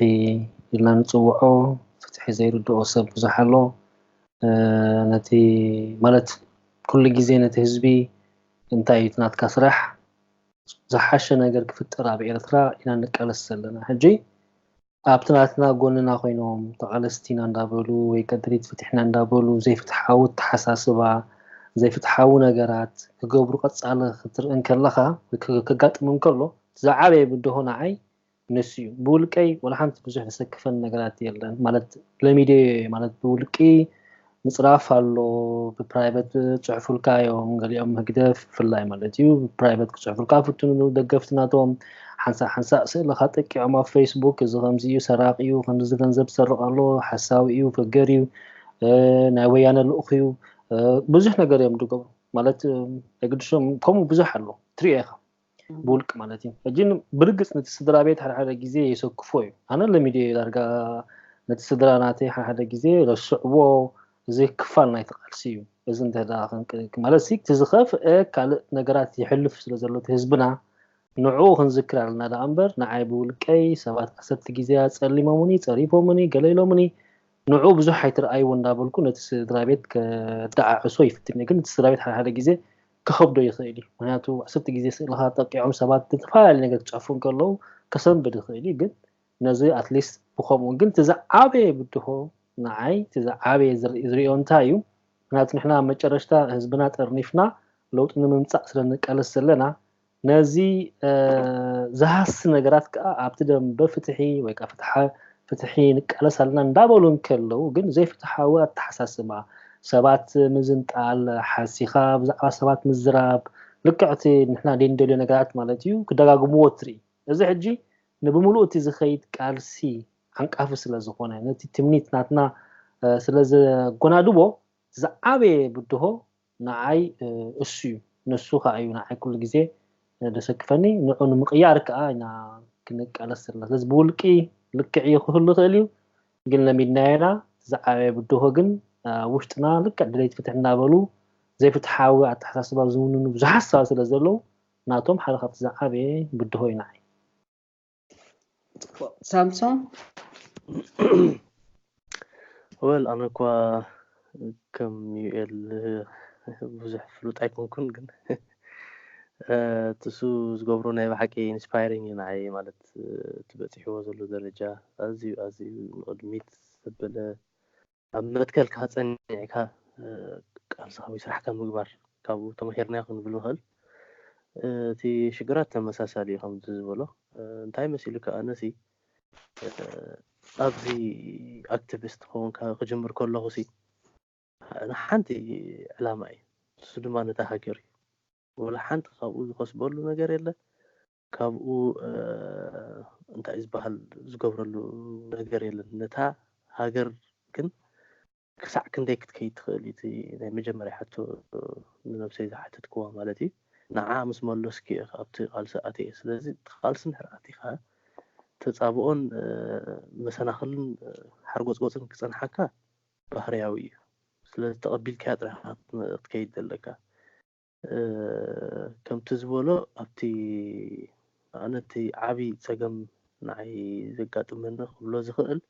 Speaker 2: ኢልና ንፅውዖ ፍትሒ ዘይርድኦ ሰብ ብዙሕ ኣሎ ነቲ ማለት ኩሉ ግዜ ነቲ ህዝቢ እንታይ እዩ ናትካ ስራሕ ዝሓሸ ነገር ክፍጠር ኣብ ኤርትራ ኢና ንቃለስ ዘለና ሕጂ ኣብቲ ናትና ጎንና ኮይኖም ተቓለስቲ ኢና እንዳበሉ ወይ ቀድሪት ፍትሕ ኢና እንዳበሉ ዘይፍትሓዊ ኣተሓሳስባ ዘይፍትሓዊ ነገራት ክገብሩ ቀጻሊ ክትርኢ እንከለኻ ወይ ከጋጥም እንከሎ ዝዓበየ ብድሆ ንዓይ ንሱ እዩ ብውልቀይ ዋላ ሓንቲ ብዙሕ ዘሰክፈን ነገራት የለን ማለት ለሚደዮ ማለት ብውልቂ ምፅራፍ ኣሎ ብፕራይበት ፅሑፉልካ እዮም ገሊኦም ህግደፍ ብፍላይ ማለት እዩ ብፕራይበት ክፅሑፉልካ ፍትንሉ ደገፍቲ ናቶም ሓንሳእ ሓንሳእ ስእልኻ ጠቂዖም ኣብ ፌስቡክ እዚ ከምዚ እዩ ሰራቂ እዩ ከምዚ ገንዘብ ዝሰርቕ ኣሎ ሓሳዊ እዩ ፈገር እዩ ናይ ወያነ ልኡኽ እዩ ብዙሕ ነገር እዮም ዝገብሩ ማለት የግድሶም ከምኡ ብዙሕ ኣሎ ትሪኦ ኢኻ ብውልቂ ማለት እዩ ሕጂ ብርግጽ ነቲ ስድራ ቤት ሓደ ሓደ ግዜ የሰክፎ እዩ ኣነ ለሚደዮ ዳርጋ ነቲ ስድራ ናተይ ሓደ ሓደ ግዜ ረስዕዎ እዚ ክፋል ናይቲ ቃልሲ እዩ እዚ እንተዳ ማለት ሲ እቲ ዝኸፍአ ካልእ ነገራት ይሕልፍ ስለ ዘሎ እቲ ህዝብና ንዕኡ ክንዝክር ኣለና ደኣ እምበር ንዓይ ብውልቀይ ሰባት ዓሰርተ ግዜ ኣጸሊሞምኒ ጸሪፎምኒ ገለ ኢሎምኒ ንዑ ብዙሕ ኣይትርኣይዎ እንዳበልኩ ነቲ ስድራ ቤት ከደዓዕሶ ይፍትን ግን እቲ ስድራ ቤት ሓደ ሓደ ግዜ ክኸብዶ ይኽእል እዩ ምክንያቱ ዕስርቲ ግዜ ስእልኻ ጠቂዖም ሰባት ብዝተፈላለየ ነገር ክጨፍሩ እንከለዉ ከሰንብድ ይኽእል እዩ ግን ነዚ ኣትሊስት ብከምኡ ግን እቲ ዝዓበየ ብድሆ ንዓይ እቲ ዝዓበየ ዝሪኦ እንታይ እዩ ምክንያቱ ንሕና መጨረሽታ ህዝብና ጠርኒፍና ለውጢ ንምምፃእ ስለ ንቃለስ ዘለና ነዚ ዝሃሲ ነገራት ከኣ ኣብቲ ደምበ ፍትሒ ወይ ከኣ ፍትሓ ፍትሒ ንቃለስ ኣለና እንዳበሉ እንከለዉ ግን ዘይፍትሓዊ ኣተሓሳስባ ሰባት ምዝንጣል ሓሲኻ ብዛዕባ ሰባት ምዝራብ ልክዕ እቲ ንሕና ዘይንደልዮ ነገራት ማለት እዩ ክደጋግምዎ ትርኢ እዚ ሕጂ ንብምሉኡ እቲ ዝኸይድ ቃልሲ ዓንቃፊ ስለ ዝኾነ ነቲ ትምኒት ናትና ስለ ዘጎናድቦ ዝዓበየ ብድሆ ንዓይ እሱ'ዩ፣ ንሱ ከኣ'ዩ ንዓይ ኩሉ ግዜ ደሰክፈኒ፣ ንዕኡ ንምቕያር ከኣ ኢና ክንቃለስ ዘለና፣ ስለዚ ብውልቂ ልክዕ'ዩ ክህሉ ይኽእል'ዩ፣ ግን ለሚድናዮ ኢና፣ እቲ ዝዓበየ ብድሆ ግን ኣብ ውሽጥና ልክዕ ደለይቲ ፍትሒ እናበሉ ዘይፍትሓዊ ኣተሓሳስባ ዝውንኑ ብዙሓት ሰባት ስለዘለዉ ናቶም ሓደ ካብቲ ዝዓበየ ብድሆ'ዩ ንዓይ።
Speaker 1: ሳምሶም
Speaker 3: ወል ኣነ እኳ ከም ዩኤል ብዙሕ ፍሉጥ ኣይኮንኩን ግን ትሱ ዝገብሮ ናይ ብሓቂ ኢንስፓይሪንግ እዩ ንዓይ ማለት እቲ በፂሕዎ ዘሎ ደረጃ ኣዝዩ ኣዝዩ ንቕድሚት ዘበለ ኣብ መትከልካ ጸኒዕካ ቃልሳዊ ስራሕካ ምግባር ካብኡ ተማሂርናዮ ክንብል ንኽእል። እቲ ሽግራት ተመሳሳሊ እዩ ከምዚ ዝበሎ እንታይ መሲሉካ ኣነሲ ኣብዚ ኣክቲቪስት ክኸውንካ ክጅምር ከለኹሲ ንሓንቲ ዕላማ እዩ ንሱ ድማ ነታ ሃገር እዩ ወላ ሓንቲ ካብኡ ዝኸስበሉ ነገር የለ ካብኡ እንታይ ዝበሃል ዝገብረሉ ነገር የለን። ነታ ሃገር ግን ክሳዕ ክንደይ ክትከይድ ትኽእል እዩ እቲ ናይ መጀመርያ ሕቶ ንነብሰይ ዝሓተትክዋ ማለት እዩ። ንዓ ምስ መለስኩ እየ ኣብቲ ቃልሲ ኣትየ። ስለዚ እቲ ቃልሲ እንድሕር ኣቲኻ ተጻብኦን መሰናኽልን ሓርጎጽጎጽን ክጸንሓካ ባህርያዊ እዩ። ስለዚ ተቐቢልካያ ጥራሕ ኢኻ ክትከይድ ዘለካ። ከምቲ ዝበሎ ኣብቲ ኣነ እቲ ዓብዪ ፀገም ንዓይ ዘጋጥመኒ ክብሎ ዝኽእል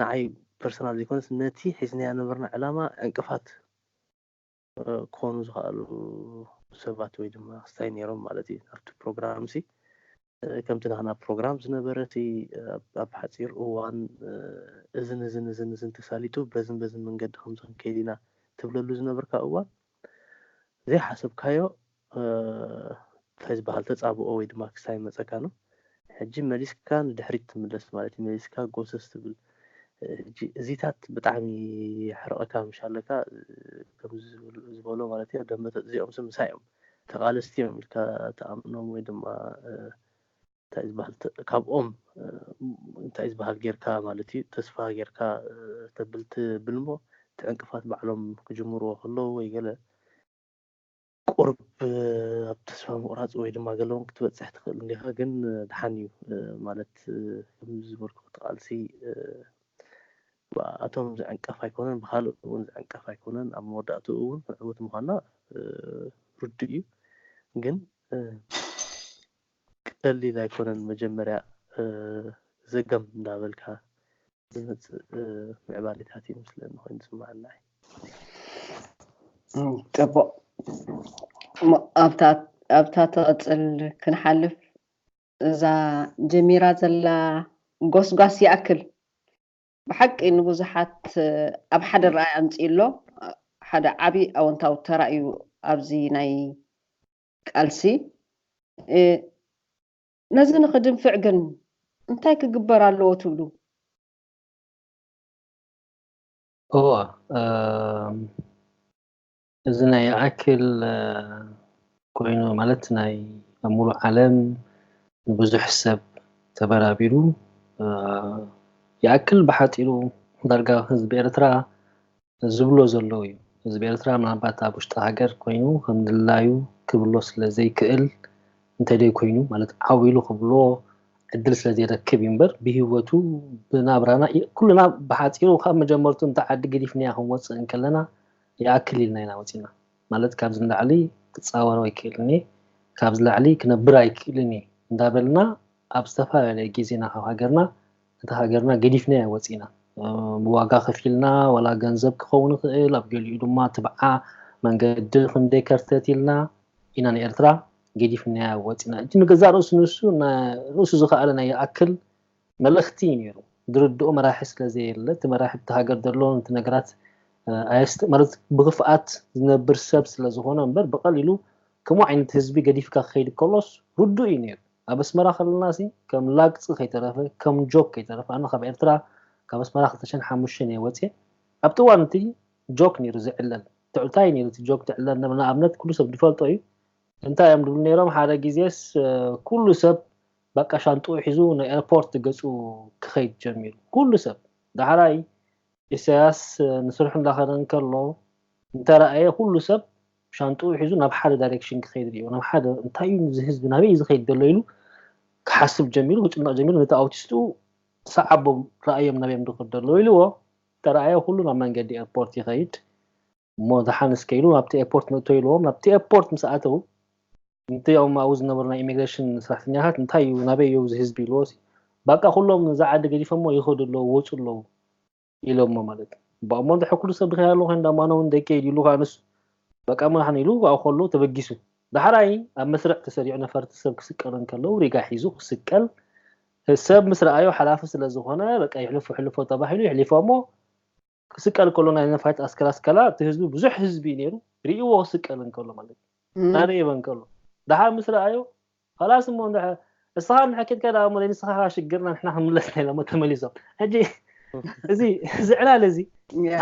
Speaker 3: ንዓይ ፐርሰናል ዘይኮነስ ነቲ ሒዝናያ ነበርና ዕላማ ዕንቅፋት ክኾኑ ዝኸኣሉ ሰባት ወይ ድማ ክስታይ ነይሮም ማለት እዩ ኣብቲ ፕሮግራም ሲ ከምቲ ናህና ፕሮግራም ዝነበረ እቲ ኣብ ሓጺር እዋን እዝን እዝን እዝን እዝን ተሳሊጡ በዝን በዝን መንገዲ ከምዚ ክንከይድ ኢና ትብለሉ ዝነበርካ እዋን ዘይሓሰብካዮ እንታይ ዝበሃል ተጻብኦ ወይ ድማ ክሳይ ይመጸካ ነው። ሕጂ መሊስካ ንድሕሪት ትምለስ ማለት እዩ መሊስካ ጎሰስ ትብል እዚታት ብጣዕሚ ሕርቐካ ምሻለካ ከምዚ ዝበሎ ማለት እዩ ደመተ እዚኦም ስምሳ እዮም ተቓለስቲ እዮም ኢልካ ትኣምኖም ወይ ድማ እንታይ ዝበሃል ካብኦም እንታይ ዝበሃል ጌርካ ማለት እዩ ተስፋ ጌርካ ተብል ትብል እሞ እቲ ዕንቅፋት ባዕሎም ክጅምርዎ ከለዉ ወይ ገለ ቁርብ ኣብ ተስፋ ምቑራፅ ወይ ድማ ገለ እውን ክትበፅሕ ትኽእል እንዲኻ ግን ድሓን እዩ ማለት ከምዚ ዝበልኩ ተቓልሲ ብኣኣቶም ዝዕንቀፍ ኣይኮነን፣ ብኻልኦት እውን ዝዕንቀፍ ኣይኮነን፣ ኣብ መወዳእትኡ እውን ዕውት ምዃንና ርዱእ እዩ፣ ግን ቀሊል ኣይኮነን፣ መጀመርያ ዘገም እንዳበልካ ዝመጽእ ምዕባሌታት እዩ ዝመስለኒ ኮይኑ ዝስመዓኒ ንዓይ።
Speaker 1: ጽቡቕ እሞ ኣብታ ኣብታ ትቕጽል ክንሓልፍ እዛ ጀሚራ ዘላ ጎስጓስ ይኣክል ብሓቂ ንብዙሓት ኣብ ሓደ ረኣይ ኣምጺኡ ኣሎ ሓደ ዓቢ ኣወንታዊ ተራ እዩ ኣብዚ ናይ ቃልሲ ነዚ ንኽድንፍዕ ግን እንታይ ክግበር ኣለዎ ትብሉ? እወ
Speaker 2: እዚ ናይ ይኣክል ኮይኑ ማለት ናይ ኣብ ሙሉእ ዓለም ንብዙሕ ሰብ ተበራቢሩ ይኣክል ብሓፂሩ ዳርጋ ህዝቢ ኤርትራ ዝብሎ ዘሎ እዩ። ህዝቢ ኤርትራ ምናልባት ኣብ ውሽጢ ሃገር ኮይኑ ከም ድላዩ ክብሎ ስለ ዘይክእል እንተደይ ኮይኑ ማለት ዓው ኢሉ ክብሎ ዕድል ስለ ዘይረክብ እዩ እምበር ብሂወቱ ብናብራና ኩልና ብሓፂሩ ካብ መጀመርቱ እንተ ዓዲ ገዲፍናያ ክንወፅእ እንከለና ይኣክል ኢልና ኢና ወጺእና። ማለት ካብዚ ንላዕሊ ክጻወሮ ኣይክእልን እየ፣ ካብዚ ላዕሊ ክነብር ኣይክእልን እየ እንዳበልና ኣብ ዝተፈላለየ ግዜና ካብ ሃገርና ነታ ሃገርና ገዲፍናያ ወጺእና። ብዋጋ ከፊልና ዋላ ገንዘብ ክኸውን ይኽእል፣ ኣብ ገሊኡ ድማ ትብዓ መንገዲ ክንደይ ከርተት ኢልና ኢና ንኤርትራ ገዲፍናያ ወጺእና። እቲ ንገዛእ ርእሱ ንሱ ርእሱ ዝኸኣለ ናይ ይኣክል መልእኽቲ እዩ ነይሩ ድርድኦ መራሒ ስለ ዘየለ እቲ መራሒ ኣብቲ ሃገር ዘሎ ነቲ ነገራት ኣየስተ ማለት ብክፍኣት ዝነብር ሰብ ስለ ዝኾነ እምበር ብቀሊሉ ከምኡ ዓይነት ህዝቢ ገዲፍካ ክኸይድ ከሎስ ርዱእ እዩ ነይሩ ኣብ ኣስመራ ከለናሲ ከም ላግጺ ከይተረፈ ከም ጆክ ከይተረፈ ኣነ ካብ ኤርትራ ካብ ኣስመራ ክልተ ሽሕን ሓሙሽተን እየ ወጽየ ኣብቲ እዋን እቲ ጆክ ነይሩ ዝዕለል ትዕልታ እዩ ነይሩ እቲ ጆክ ትዕለል ንኣብነት ኩሉ ሰብ ዝፈልጦ እዩ እንታይ እዮም ድብሉ ነይሮም ሓደ ግዜስ ኩሉ ሰብ በቃ ሻንጥኡ ሒዙ ናብ ኤርፖርት ገጹ ክኸይድ ጀሚሩ ኩሉ ሰብ። ዳሕራይ ኢሳያስ ንስርሑ እንዳኸደ እንከሎ እንተራኣየ ኩሉ ሰብ ሻንጥኡ ሒዙ ናብ ሓደ ዳይረክሽን ክኸይድ ርእዮ ናብ ሓደ እንታይ እዩ እዚ ህዝቢ ናበይ እዩ ዝኸይድ ዘሎ ኢሉ ክሓስብ ጀሚሩ ክጭነቕ ጀሚሩ ነቲ ኣውቲስቱ ሰዓቦም ረኣዮም ናበይ እዮም ዝኸዱ ዘለዉ ኢልዎ ተራኣየ ኩሉ ናብ መንገዲ ኤርፖርት ይኸይድ እሞ ደሓን እስከ ኢሉ ናብቲ ኤርፖርት ንእቶ ኢልዎም ናብቲ ኤርፖርት ምስ ኣተው እንቲ ኦም ኣብኡ ዝነበሩ ናይ ኢሚግሬሽን ሰራሕተኛታት እንታይ እዩ ናበይ እዩ እዚ ህዝቢ ኢልዎ ባቃ ኩሎም እዛ ዓዲ ገዲፎሞ ይኸዱ ኣለዉ ወፁ ኣለዉ ኢሎሞ ማለት እዩ ባሞ እንደ ሕኩሉ ሰብ ድኸ ያለው እንደ ማነው እንደ ኬድ ይሉ ካንሱ በቃ ምናሕን ይሉ ኣብኡ ከሎ ተበጊሱ ዳሕራይ ኣብ መስርዕ ተሰሪዑ ነፈርቲ ሰብ ክስቀሉ እንከለው ሪጋ ሒዙ ክስቀል ሰብ ምስ ረኣዮ ሓላፊ ስለ ዝኾነ በቃ ይሕልፎ ሕልፎ ተባሂሉ ይሕሊፎሞ ክስቀል ከሎ ናይ ነፋሪት ኣስከራ ስከላ እቲ ህዝቢ ብዙሕ ህዝቢ ነይሩ ርእዎ ክስቀል እንከሎ ማለት እናደየበ እንከሎ ደሓር ምስ ረኣዮ ኸላስ እሞ ንስኻ እንድሕር ኬድካ ደኣ እሞ ንስኻ ኸኣ ሽግርና ንሕና ክንምለስና ኢሎሞ ተመሊሶም ሕጂ እዚ እዚ ዕላል እዚ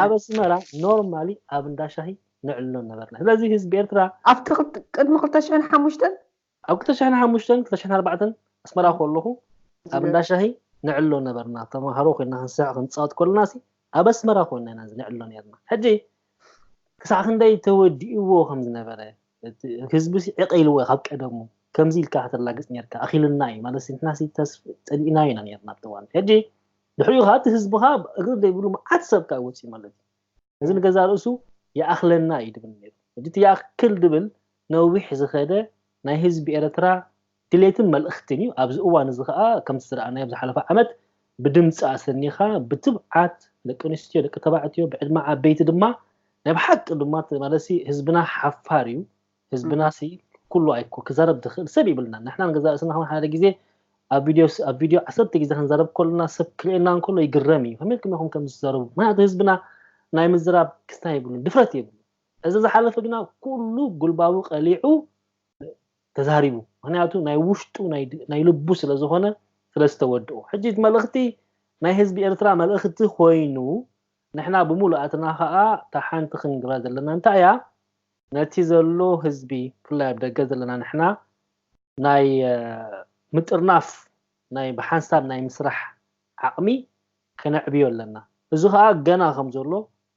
Speaker 2: ኣብ ኣስመራ ኖርማሊ ኣብ እንዳ ሻሂ ነዕልሎ ነበርና ስለዚ ህዝቢ ኤርትራ ኣብቲ ቅድሚ
Speaker 1: ክልተ ሽሕን ሓሙሽተን ኣብ ክልተ ሽሕን
Speaker 2: ሓሙሽተን ክልተ ሽሕን ኣርባዕተን ኣስመራ ኮለኹ ኣብ እንዳ ሻሂ ንዕሎ ነበርና ተማሃሮ ኮይና ክንስሕቅ ክንጻወት ኮለናሲ ኣብ ኣስመራ ኮይና ኢና ንዕሎ ኔርና ሕጂ ክሳዕ ክንደይ ተወዲእዎ ከም ዝነበረ እቲ ህዝቢሲ ዕቅ ኢልዎ ካብ ቀደሙ ከምዚ ኢልካ ከተላግጽ ኔርካ ኣኺሉና እዩ ማለት ንሕናሲ ተስፍ ጸሊእናዮ ኢና ኔርና ኣብቲ እዋን ሕጂ ድሕሪኡ ከኣ እቲ ህዝብኻ እግሪ ዘይብሉ መዓት ሰብ ከኣ ወጺኡ ማለት እዩ ነዚ ንገዛእ ርእሱ ይኣኽለና እዩ ድብል ነይሩ። ሕጂ እቲ ይኣክል ድብል ነዊሕ ዝኸደ ናይ ህዝቢ ኤርትራ ድሌትን መልእኽትን እዩ። ኣብዚ እዋን እዚ ከኣ ከምቲ ዝረኣናዮ ኣብ ዝሓለፈ ዓመት ብድምጺ ኣሰኒኻ ብትብዓት ደቂ ኣንስትዮ ደቂ ተባዕትዮ ብዕድመ ዓበይቲ ድማ ናይ ብሓቂ ድማ እቲ ማለትሲ ህዝብና ሓፋር እዩ። ህዝብናሲ ኩሉ ኣይኮ ክዛረብ ዝኽእል ሰብ ይብልናን ንሕና ንገዛ ርእስና ከማን ሓደ ግዜ ኣብ ቪድዮ ኣብ ቪድዮ ዓሰርተ ግዜ ክንዛረብ ከሎና ሰብ ክርእየና እንከሎ ይግረም እዩ ከመይ ኢልኩም ኢኹም ከምዚ ትዛረቡ ምክንያቱ ህዝብና ናይ ምዝራብ ክስታ የብሉን ድፍረት የብሉ እዚ ዝሓለፈ ግና ኩሉ ጉልባቡ ቀሊዑ ተዛሪቡ ምክንያቱ ናይ ውሽጡ ናይ ልቡ ስለ ዝኾነ ስለ ዝተወድኡ ሕጂ መልእኽቲ ናይ ህዝቢ ኤርትራ መልእኽቲ ኮይኑ ንሕና ብምሉኣትና ከዓ እታ ሓንቲ ክንግራ ዘለና እንታይ እያ ነቲ ዘሎ ህዝቢ ብፍላይ ኣብ ደገ ዘለና ንሕና ናይ ምጥርናፍ ናይ ብሓንሳብ ናይ ምስራሕ ዓቕሚ ከነዕብዮ ኣለና። እዚ ከኣ ገና ከም ዘሎ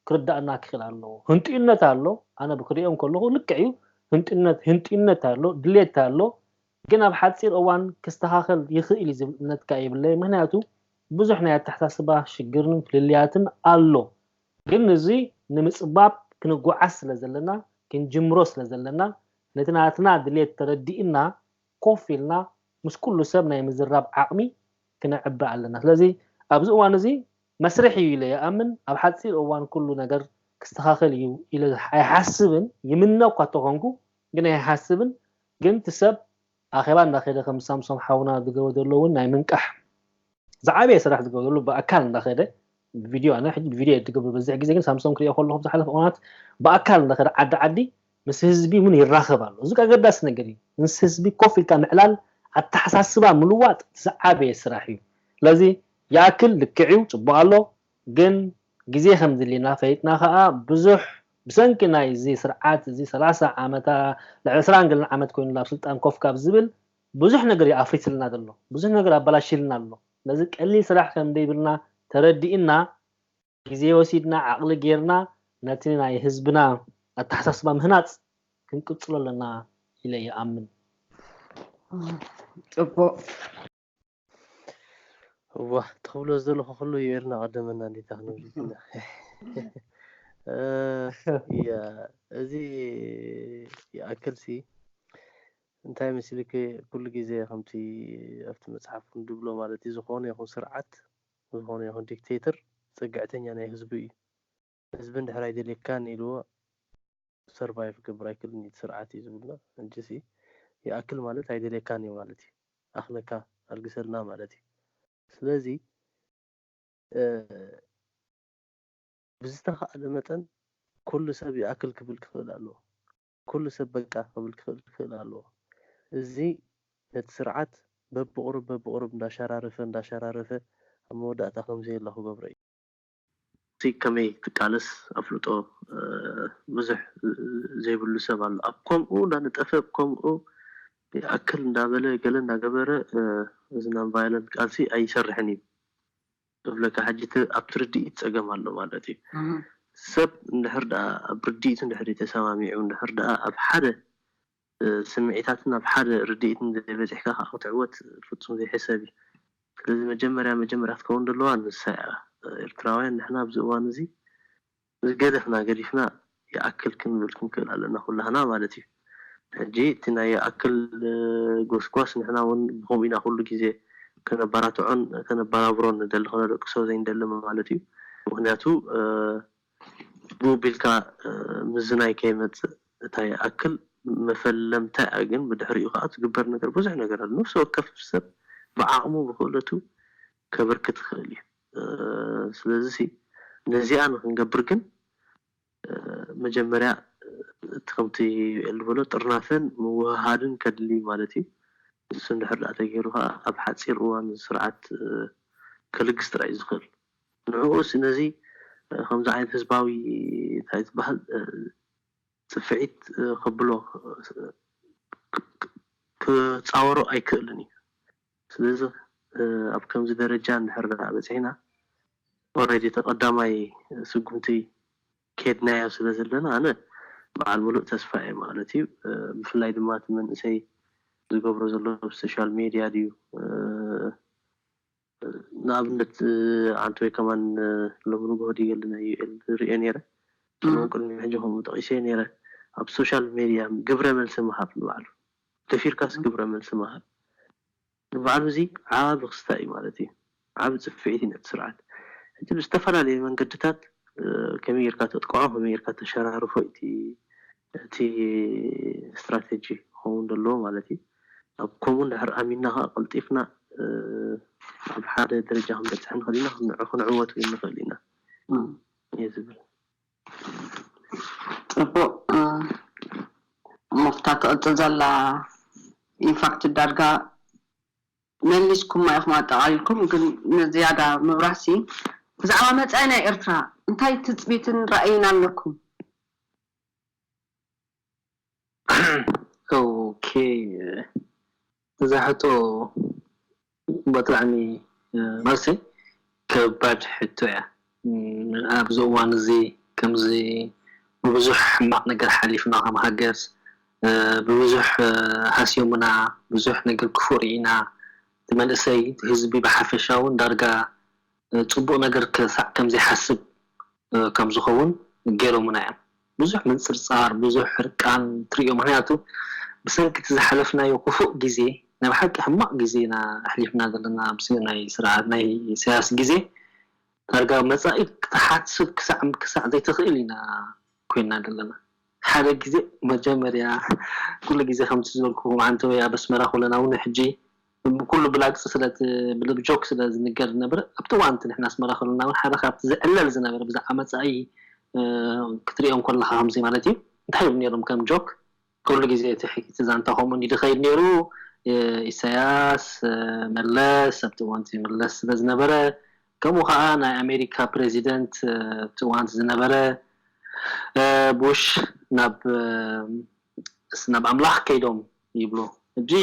Speaker 2: ክርዳእና ክኽእል ኣለዎ። ህንጥዩነት ኣሎ፣ ኣነ ብክርእዮ እንከለኹ ልክዕ እዩ፣ ህንጥዩነት ህንጥዩነት ኣሎ፣ ድሌት ኣሎ፣ ግን ኣብ ሓጺር እዋን ክስተኻኸል ይኽእል እዩ ዝብል እምነት ከኣ የብለይን። ምክንያቱ ብዙሕ ናይ ኣተሓሳስባ ሽግርን ፍልልያትን ኣሎ። ግን ንዙይ ንምፅባብ ክንጓዓዝ ስለዘለና ክንጅምሮ ስለዘለና ነቲ ናትና ድሌት ተረዲእና ኮፍ ኢልና ምስ ኩሉ ሰብ ናይ ምዝራብ ዓቕሚ ክነዕቢ ኣለና ስለዚ ኣብዚ እዋን እዙይ መስርሕ እዩ ኢለ ይኣምን ኣብ ሓፂር እዋን ኩሉ ነገር ክስተኻኸል እዩ ኢለ ኣይሓስብን ይምነ እኳ ተኾንኩ ግን ኣይሓስብን ግን እቲ ሰብ ኣኼባ እንዳከደ ከም ሳምሶም ሓውና ዝገብሮ ዘሎ ውን ናይ ምንቃሕ ዝዓበየ ስራሕ ዝገብሮ ዘሎ ብኣካል እንዳከደ ብቪድዮ ኣነ ሕጂ ብቪድዮ እየ ዝገብሮ ዝበዝሕ ግዜ ግን ሳምሶም ክሪኦ ከለኩ ኣብ ዝሓለፈ እዋናት ብኣካል እንዳከደ ዓዲ ዓዲ ምስ ህዝቢ ውን ይራከብ ኣሎ እዚ ኣገዳሲ ነገር እዩ ምስ ህዝቢ ኮፍ ኢልካ ምዕላል ኣተሓሳስባ ምልዋጥ እቲ ዝዓበየ ስራሕ እዩ ስለዚ ይኣክል ልክዕ እዩ ጽቡቅ ኣሎ ግን ግዜ ከም ዝድልየና ፈሊጥና ከኣ ብዙሕ ብሰንኪ ናይ እዚ ስርዓት እዚ ሰላሳ ዓመታ ልዕሊ ዕስራን ገለን ዓመት ኮይኑ ኣብ ስልጣን ኮፍ ካብ ዝብል ብዙሕ ነገር እዩ ኣፍሪስልና ዘሎ ብዙሕ ነገር ኣባላሺልና ኣሎ ስለዚ ቀሊል ስራሕ ከም ደይብልና ተረዲእና ግዜ ወሲድና ዓቅሊ ገይርና ነቲ ናይ ህዝብና ኣተሓሳስባ ምህናጽ ክንቅጽሎ ኣለና ኢለ ይኣምን። ጽቡቅ።
Speaker 3: እዋ ትኽብሎ ዘለኹ ኩሉ እዩ ኤርና ቀደመና እንዴታ ክንብል ኢና እዚ ይኣክልሲ እንታይ መስልክ ኩሉ ግዜ ከምቲ ኣብቲ መጽሓፍ ድብሎ ማለት እዩ ዝኾነ ይኹን ስርዓት ዝኾነ ይኹን ዲክቴተር ጽግዕተኛ ናይ ህዝቡ እዩ ህዝቢ እንድሕር ኣይደልየካን ኢልዎ ሰርቫይቭ ክገብር ኣይክእልን እዩ እቲ ስርዓት እዩ ዝብልና ሕጂሲ ይኣክል ማለት ኣይደልየካን እዩ ማለት እዩ ኣኽለካ ኣልግሰልና ማለት እዩ ስለዚ ብዝተኻእለ መጠን ኩሉ ሰብ ይኣክል ክብል ክኽእል ኣለዎ ኩሉ ሰብ በቃ ክብል ክኽእል ክኽእል ኣለዎ እዚ ነቲ ስርዓት በብቑሩብ በብቑሩብ እንዳሸራረፈ እንዳሸራረፈ ኣብ መወዳእታ ከምዘየለ ክገብሮ እዩ። እቲ ከመይ ትቃለስ ኣፍልጦ ብዙሕ ዘይብሉ ሰብ ኣሎ ኣብ ኮምኡ እንዳነጠፈ ብ ኮምኡ ይኣክል እንዳበለ ገለ እንዳገበረ እዚ non violent ቃልሲ ኣይሰርሕን እዩ እብለካ ሕጂ እቲ ኣብቲ ርድኢት ጸገም ኣሎ ማለት እዩ ሰብ እንድሕር ድኣ ኣብ ርድኢት እንድሕር ተሰማሚዑ እንድሕር ድኣ ኣብ ሓደ ስምዒታትን ኣብ ሓደ ርድኢት እንተዘይበጺሕካ ከኣ ክትዕወት ፍጹም ዘይሕሰብ እዩ። ስለዚ መጀመርያ መጀመርያ ክትከውን ዘለዋ ንሳ እያ። ኤርትራውያን ንሕና ኣብዚ እዋን እዚ ዝገደፍና ገዲፍና ይኣክል ክንብል ክንክእል ኣለና ኩላህና ማለት እዩ። ሕጂ እቲ ናይ ይኣክል ጎስጓስ ንሕና ውን ብከምኡ ኢና ኩሉ ግዜ ከነበራትዖን ከነበራብሮን ንደሊ ከነደቅሶ ዘይንደሊ ማለት እዩ። ምክንያቱ ብኡ ቢልካ ምዝናይ ከይመጽእ እታ ይኣክል መፈለምታ'ያ ግን ብድሕሪኡ ከኣ ዝግበር ነገር ብዙሕ ነገር ኣሎ ነፍሲ ወከፍ ሰብ ብዓቕሙ ብኽእለቱ ከበርክት ይኽእል'ዩ ስለዚሲ ነዚኣ ንኽንገብር ግን መጀመርያ እቲ ከምቲ ዩኤል ዝበሎ ጥርናፈን ምውህሃድን ከድሊ ማለት'ዩ ንሱ እንድሕር ደኣ ተገይሩ ከኣ ኣብ ሓጺር እዋን እዚ ስርዓት ከልግስ ጥራይ'ዩ ዝኽእል። ንዕኡ ስነዚ ከምዚ ዓይነት ህዝባዊ ታይ ትባሃል ጽፍዒት ከብሎ ክጻወሮ ኣይክእልን እዩ ስለዚ ኣብ ከምዚ ደረጃ እንድሕር ድኣ በጺሕና ኦሬዲ እቲ ቀዳማይ ስጉምቲ ከድናዮ ስለ ዘለና ኣነ በዓል ምሉእ ተስፋ እየ ማለት እዩ ብፍላይ ድማ እቲ መንእሰይ ዝገብሮ ዘሎ ብ ሶሻል ሜድያ ድዩ ንኣብነት ኣንቶይ ከማን ሎሚ ንግሆ ድዩ የለን ዩኤል ሪኤ ኔረ ከምኡውን ቅድሚ ሕጂ ከምኡ ጠቂሰዮ ኔረ ኣብ ሶሻል ሜድያ ግብረ መልሲ ምሃብ ንባዕሉ ደፊርካስ ግብረ መልሲ ምሃብ ንባዕሉ እዚ ዓቢ ክስታይ እዩ ማለት እዩ ዓቢ ጽፊዒት እዩ ነቲ ስርዓት ሕጂ ብዝተፈላለየ መንገድታት ከመይ ጌርካ ተጥቅዖ ከመይ ጌርካ ተሸራርፎ እዩ እቲ እቲ ስትራተጂ ክኸውን ዘለዎ ማለት እዩ። ኣብ ከምኡ እንድሕር ኣሚንና ከኣ ቀልጢፍና ኣብ ሓደ ደረጃ ክንበጽሕ ንኽእል ኢና፣ ንዑ ክንዕወት እውን ንኽእል ኢና እየ ዝብል። ጽቡቕ
Speaker 1: እሞ ክታ ትቕጽል ዘላ ኢንፋክት ዳርጋ መሊስኩማ ኢኹም ኣጠቓሊልኩም ግን ንዝያዳ ምብራህሲ ብዛዕባ መጻኢ ናይ ኤርትራ እንታይ ትጽቢትን ራእይን ኣለኩም?
Speaker 2: እዛ ሕቶ ብጣዕሚ መልሰይ ከባድ ሕቶ እያ ኣብዚ እዋን እዚ ከምዚ ብብዙሕ ሕማቅ ነገር ሓሊፍና ከም ሃገር ብብዙሕ ሃስዮምና ብዙሕ ነገር ክፉእ ሪኢና እቲ መንእሰይ እቲ ህዝቢ ብሓፈሻ ውን ዳርጋ ጽቡቕ ነገር ክሳዕ ከም ዘይሓስብ ከም ዝኸውን ገይሮምና እዮም። ብዙሕ ምንጽርጻር፣ ብዙሕ ሕርቃን ትርእዮ፣ ምኽንያቱ ብሰንኪ እቲ ዝሓለፍናዮ ክፉእ ግዜ፣ ናይ ብሓቂ ሕማቕ ግዜ ኢና ኣሕሊፍና ዘለና፣ ኣብ ናይ ስርዓት ናይ ኢሳያስ ግዜ ዳርጋ መጻኢ ክትሓስብ ክሳዕ ክሳዕ ዘይትኽእል ኢና ኮይንና ዘለና። ሓደ ግዜ መጀመርያ ኩሉ ግዜ ከምቲ ዝበልኩኹም ዓንተበይ ኣብ ኣስመራ ከሎና እውን ሕጂ፣ ብኩሉ ብላግጺ ስለ እቲ ብልብ ጆክ ስለ ዝንገር ዝነብር ኣብቲ እዋን እቲ ንሕና ኣስመራ ከሎና ውን ሓደ ካብቲ ዝዕለል ዝነበረ ብዛዕባ መጻኢ ክትሪኦ እንኮለኻ ከምዚ ማለት እዩ እንታይ ይብሉ ኔሮም ከም ጆክ ኩሉ ግዜ እቲ ሕይቲ ዛንታ ከምኡ እንድዩ ዝኸይድ ኔሩ ኢሳያስ መለስ ኣብቲ እዋን እቲ መለስ ስለ ዝነበረ ከምኡ ከኣ ናይ ኣሜሪካ ፕረሲደንት ኣብቲ እዋን እቲ ዝነበረ ቡሽ ናብ እስ ናብ ኣምላኽ ከይዶም ይብሉ እብዚ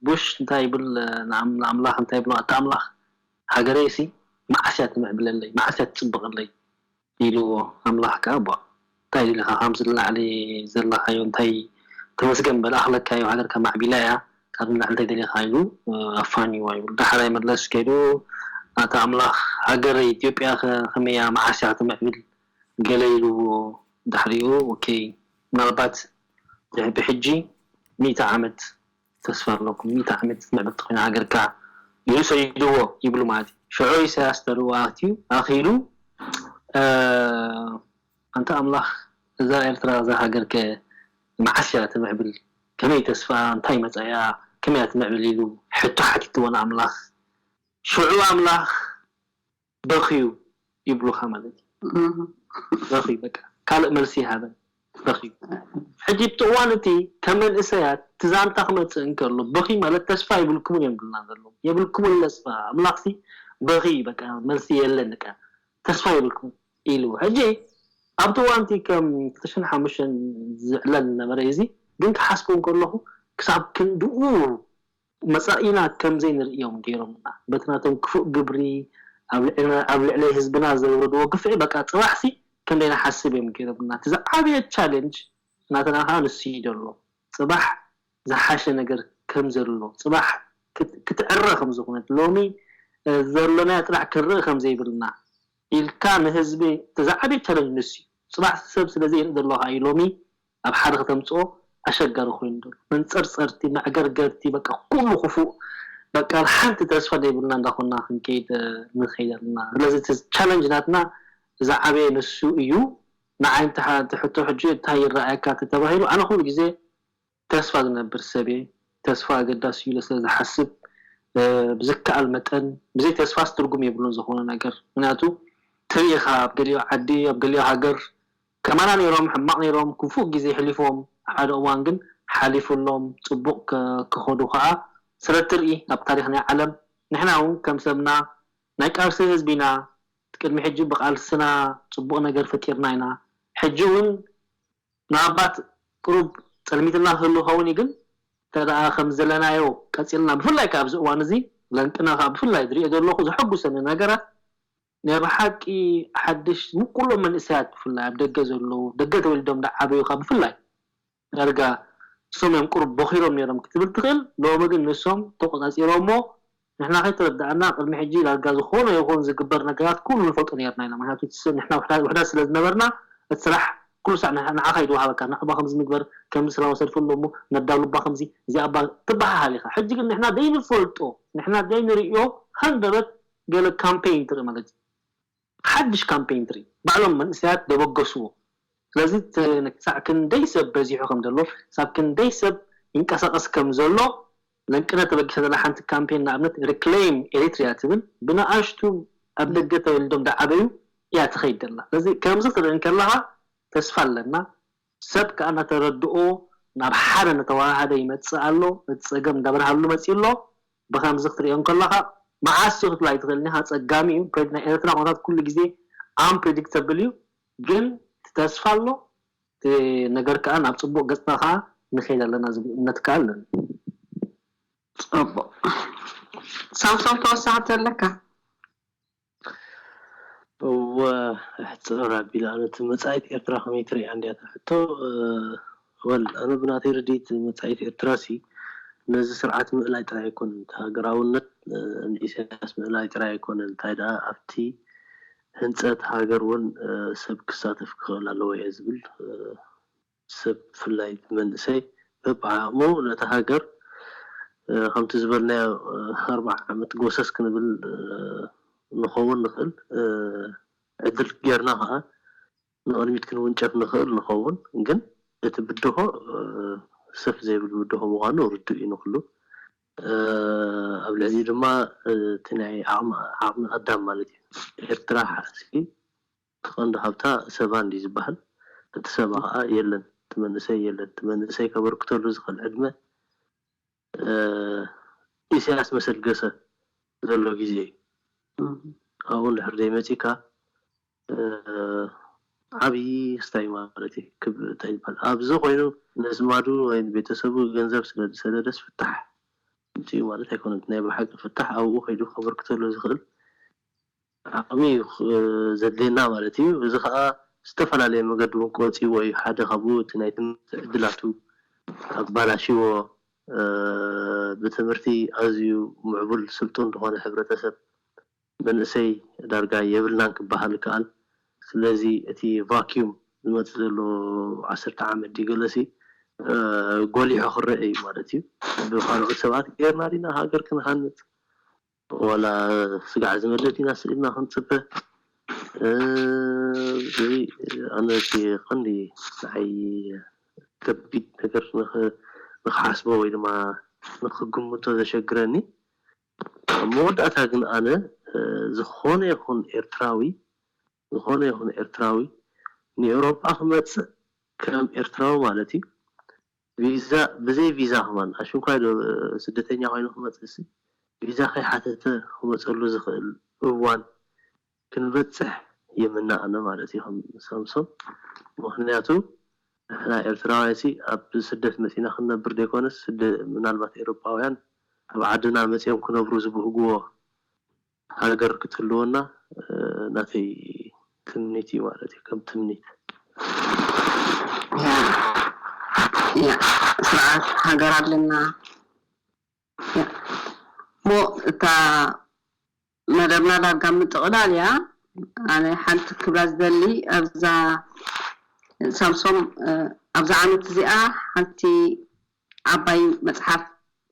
Speaker 2: ቡሽ እንታይ ይብል ንኣምላኽ እንታይ ይብሎ ኣታ ኣምላኽ ሃገረይ እሲ መዓስ እያ ትምዕብለለይ መዓስ እያ ትጽብቐለይ ኢልዎ ኣምላኽ ከኣ ቧእ እንታይ ደሊኻ ካብዚ ንላዕሊ ዘለኻዮ እንታይ ተመስገን በል ኣኽለካዮ ሃገርካ ማዕቢላ እያ ካብዚ ንላዕሊ እንታይ ደሊኻ ኢሉ ኣፋንይዎ ይብሉ ዳሕራይ መለስ ከይዱ ኣታ ኣምላኽ ሃገረይ ኢትዮጵያኸ ከመይ እያ መዓስ እያ ክትምዕብል ገለ ኢልዎ ድሕሪኡ ኦኬይ ምናልባት ድሕሪ ብሕጂ ሚእቲ ዓመት ተስፋ ኣለኩም ሚእቲ ዓመት ምዕብልቲ ኮይና ሃገርካ ኢሉ ሰዲድዎ ይብሉ ማለት እዩ ሽዑ ኢሰያስ ተልእኮ ኣክትዩ ኣኪሉ ኣንታ ኣምላክ እዛ ኤርትራ እዛ ሃገርከ መዓስ እያ ትምዕብል ከመይ ተስፋኣ እንታይ መጻኢኣ ከመይ እያ ትምዕብል ኢሉ ሕቶ ሓቲትዎ ንኣምላክ ሽዑ ኣምላክ በኽዩ ይብሉኻ ማለት እዩ በኽዩ በቃ ካልእ መልሲ ይሃበን በኽዩ ሕጂ ኣብቲ እዋን እቲ ከም መንእሰያት እቲ ዛንታ ክመጽእ እንከሎ በኽዩ ማለት ተስፋ የብልኩምን እዮም ዝብሉና ዘለዉ የብልኩምን ለስፋ ኣምላኽሲ በኽዩ በቃ መልሲ የለን በቃ ተስፋ የብልኩምን ኢሉ ሕጂ ኣብቲ እዋን እቲ ከም ክልተሽሕን ሓሙሽተን ዝዕለል ዝነበረ እዩ እዚ ግን ክሓስቦ እንከለኹ ክሳብ ክንድኡ መጻኢና ከም ዘይንርእዮም ገይሮምና በቲ ናቶም ክፉእ ግብሪ ኣብ ልዕልና ኣብ ልዕለይ ህዝብና ዘውረድዎ ግፍዒ በቃ ጽባሕሲ ክንደይ ንሓስብ እዮም ገይሮምና እቲ ዝዓበየ ቻለንጅ ናትና ከኣ ንሱ እዩ ደሎ ጽባሕ ዝሓሸ ነገር ከም ዘሎ ጽባሕ ክትዕረ ከም ዝኮነት ሎሚ ዘሎናዮ ጥራሕ ክንርኢ ከም ዘይብልና ኢልካ ንህዝቢ እቲ ዝዓበየ ቻለንጅ ንሱ እዩ ጽባሕ ሰብ ስለ ዘይርኢ ደሎ ከኣ እዩ ሎሚ ኣብ ሓደ ከተምጽኦ ኣሸጋሪ ኮይኑ ደሎ መንጸርጸርቲ መዕገርገርቲ በቃ ኩሉ ኩፉእ በቃ ብ ሓንቲ ተስፋ ደይብልና እንዳኮና ክንከይድ ንከይድ ኣለና ስለዚ እቲ ቻለንጅ ናትና ዝዓበየ ንሱ እዩ ንዓይ እንተ ሕቶ ሕጂ እንታይ ይረኣየካ ተተባሂሉ ኣነ ኩሉ ግዜ ተስፋ ዝነብር ሰብ እየ ተስፋ ኣገዳሲ እዩ ኢለ ስለ ዝሓስብ ብዝከኣል መጠን ብዘይ ተስፋስ ትርጉም የብሉን ዝኮነ ነገር ምክንያቱ ትሪኢካ ኣብ ገሊኦ ዓዲ ኣብ ገሊኦ ሃገር ከማና ኔሮም ሕማቅ ኔሮም ኩፉእ ግዜ ሕሊፍዎም ኣብ ሓደ እዋን ግን ሓሊፍሎም ጽቡቅ ክከዱ ከኣ ስለትርኢ ኣብ ታሪክ ናይ ዓለም ንሕና ውን ከም ሰብና ናይ ቃልሲ ህዝቢ ኢና ቅድሚ ሕጂ ብቃልስና ጽቡቅ ነገር ፈጢርና ኢና ሕጂ ውን ምናባት ቅሩብ ጸልሚትና ክህሉ ይከውን እዩ ግን እንተደኣ ከምዚ ዘለናዮ ቀጺልና ብፍላይ ከኣ ኣብዚ እዋን እዚ ለንቅና ከኣ ብፍላይ ዝርኦ ዘለኩ ዘሐጉሰኒ ነገራት ናይ ብሓቂ ሓድሽ ንኩሎም መንእሰያት ብፍላይ ኣብ ደገ ዘለዉ ደገ ተወሊዶም ድዓበዩ ከኣ ብፍላይ ዳርጋ ንሶም እዮም ቁሩብ ቦኺሮም ኔሮም ክትብል ትኽእል ሎሚ ግን ንሶም ተቆጻጺሮሞ ንሕና ከይተረዳኣና ቅድሚ ሕጂ ዳርጋ ዝኾነ ይኹን ዝግበር ነገራት ኩሉ ንፈልጦ ኔርና ኢና ምክንያቱ እቲ ንሕና ውሕዳት ስለ ዝነበርና እቲ ስራሕ ኩሉ ሳዕ ንዓኻ እዩ ድወሃበካ ናኣባ ከምዚ ንግበር ከምዚ ሰላማዊ ሰልፊ ኣሎ እሞ ነዳሉ እባ ከምዚ እዚኣ እባ ትበሃሃል ኢኻ ሕጂ ግን ንሕና ዘይንፈልጦ ንሕና ዘይንርእዮ ሃንደበት ገለ ካምፔይን ትርኢ ማለት እዩ ሓድሽ ካምፔይን ትርኢ ባዕሎም መንእሰያት ደበገስዎ ስለዚ ክሳዕ ክንደይ ሰብ በዚሑ ከም ዘሎ ክሳብ ክንደይ ሰብ ይንቀሳቀስ ከም ዘሎ ለንቅነ ተበጊሳ ዘላ ሓንቲ ካምፔይን ንኣብነት Reclaim Eritrea ትብል ብንኣሽቱ ኣብ ደገ ተወሊዶም ዝዓበዩ እያ ትኸይድ ዘላ ስለዚ ከምዚ ክትርኢ እንከለኻ ተስፋ ኣለና ሰብ ከኣ እናተረድኦ ናብ ሓደ እናተወሃሃደ ይመጽእ ኣሎ፣ እቲ ጸገም እንዳበርሃሉ መጺኡ ኣሎ፣ ብኸምዚ ክትርእዮ እንከለኻ መዓስ'ዩ ክትብላ ኣይትኽእልን ኢኻ፣ ኣጸጋሚ'ዩ፣ ናይ ኤርትራ ኩነታት ኩሉ ግዜ Unpredictable እዩ፣ ግን እቲ ተስፋ ኣሎ፣ እቲ ነገር ከኣ ናብ ጽቡቕ ገጽታ ከኣ ንኸይድ ኣለና ዝብል እምነት ከኣ ኣለኒ።
Speaker 1: ጽቡቕ ሳምሶም ተወሳኺ ተለካ? እወ
Speaker 3: ኣሕጽር ኣቢላ ኣነቲ መጻኢት ኤርትራ ከመይ ትርእያ እንድያ እታ ሕቶ ወል ኣነ ብናተይ ርዲኢት መጻኢት ኤርትራሲ ነዚ ስርዓት ምእላይ ጥራይ ኣይኮነን እቲ ሃገራውነት ንኢሰያስ ምእላይ ጥራይ ኣይኮነን እንታይ ደኣ ኣብቲ ህንጸት ሃገር ውን ሰብ ክሳተፍ ክኽእል ኣለዎ እየ ዝብል ሰብ ብፍላይ መንእሰይ በብዓቕሙ ነታ ሃገር ከምቲ ዝበልናዮ ኣርብዓ ዓመት ጎሰስ ክንብል ንኸውን ንኽእል ዕድል ጌርና ከኣ ንቕድሚት ክንውንጨፍ ንኽእል ንኸውን ግን እቲ ብድሆ ሰፍ ዘይብል ብድሆ ምዃኑ ርዱእ እዩ ንኹሉ ኣብ ልዕሊኡ ድማ እቲ ናይ ዓቕሚ ኣዳም ማለት እዩ ኤርትራ ሓዚ እቲ ቀንዱ ሃብታ ሰባ እንድዩ ዝበሃል እቲ ሰባ ከኣ የለን እቲ መንእሰይ የለን እቲ መንእሰይ ከበርክተሉ ዝኽእል ዕድመ ኢሰያስ መሰልገሰ ዘሎ ግዜ እዩ ኣብኡ እንድሕር ዘይመጺካ ዓቢ ክስታይ ማለት እዩ ክብ እንታይ ይበሃል ኣብዚ ኮይኑ ነዝማዱ ወይ ንቤተሰቡ ገንዘብ ስለ ዝሰደደስ ፍታሕ ኣምጺኡ ማለት ኣይኮነን ናይ ብሓቂ ፍታሕ ኣብኡ ከይዱ ከበርክተሉ ዝኽእል ዓቕሚ እዩ ዘድልየና ማለት እዩ። እዚ ከኣ ብዝተፈላለየ መገዲ እውን ክወጽእዎ እዩ። ሓደ ካብኡ እቲ ናይ ትምህርቲ ዕድላቱ ኣባላሽይዎ። ብትምህርቲ ኣዝዩ ምዕቡል ስልጡን ዝኾነ ሕብረተሰብ መንእሰይ ዳርጋ የብልናን ክበሃል ይከኣል። ስለዚ እቲ ቫክዩም ዝመጽእ ዘሎ ዓሰርተ ዓመት ድዩ ገለሲ ጎሊሑ ክረኣ እዩ ማለት እዩ። ብካልኦት ሰባት ገይርና ዲና ሃገር ክንሃንጽ ወላ ስጋዕ ዝመልእ ዲናስ ኢልና ክንጽበ እዚ ኣነ እቲ ቀንዲ ንዓይ ከቢድ ነገር ንክሓስቦ ወይ ድማ ንክግምቶ ዘሸግረኒ ኣብ መወዳእታ ግን ኣነ ዝኮነ ይኩን ኤርትራዊ ዝኮነ ይኩን ኤርትራዊ ንኤውሮጳ ክመጽእ ከም ኤርትራዊ ማለት እዩ ቪዛ ብዘይ ቪዛ ክማን ኣሽንኳይ ዶ ስደተኛ ኮይኑ ክመጽእሲ ቪዛ ከይሓተተ ክመጸሉ ዝክእል እዋን ክንበጽሕ ይምነ ኣነ ማለት እዩ ከም ሳምሶም ምክንያቱ ንሕና ኤርትራውያንሲ ኣብ ስደት መጺና ክንነብር ደይኮነስ ምናልባት ኤሮጳውያን ኣብ ዓድና መጽዮም ክነብሩ ዝብህግዎ ሃገር ክትህልወና ናተይ ትምኒት እዩ ማለት እዩ ከም ትምኒት።
Speaker 1: ስርዓት ሃገር ኣለና እሞ እታ
Speaker 4: መደብና ዳርጋ ምጥቕላል እያ ኣነ ሓንቲ ክብላ ዝደሊ ኣብዛ ሳምሶም ኣብዛ ዓመት እዚኣ ሓንቲ ዓባይ መጽሓፍ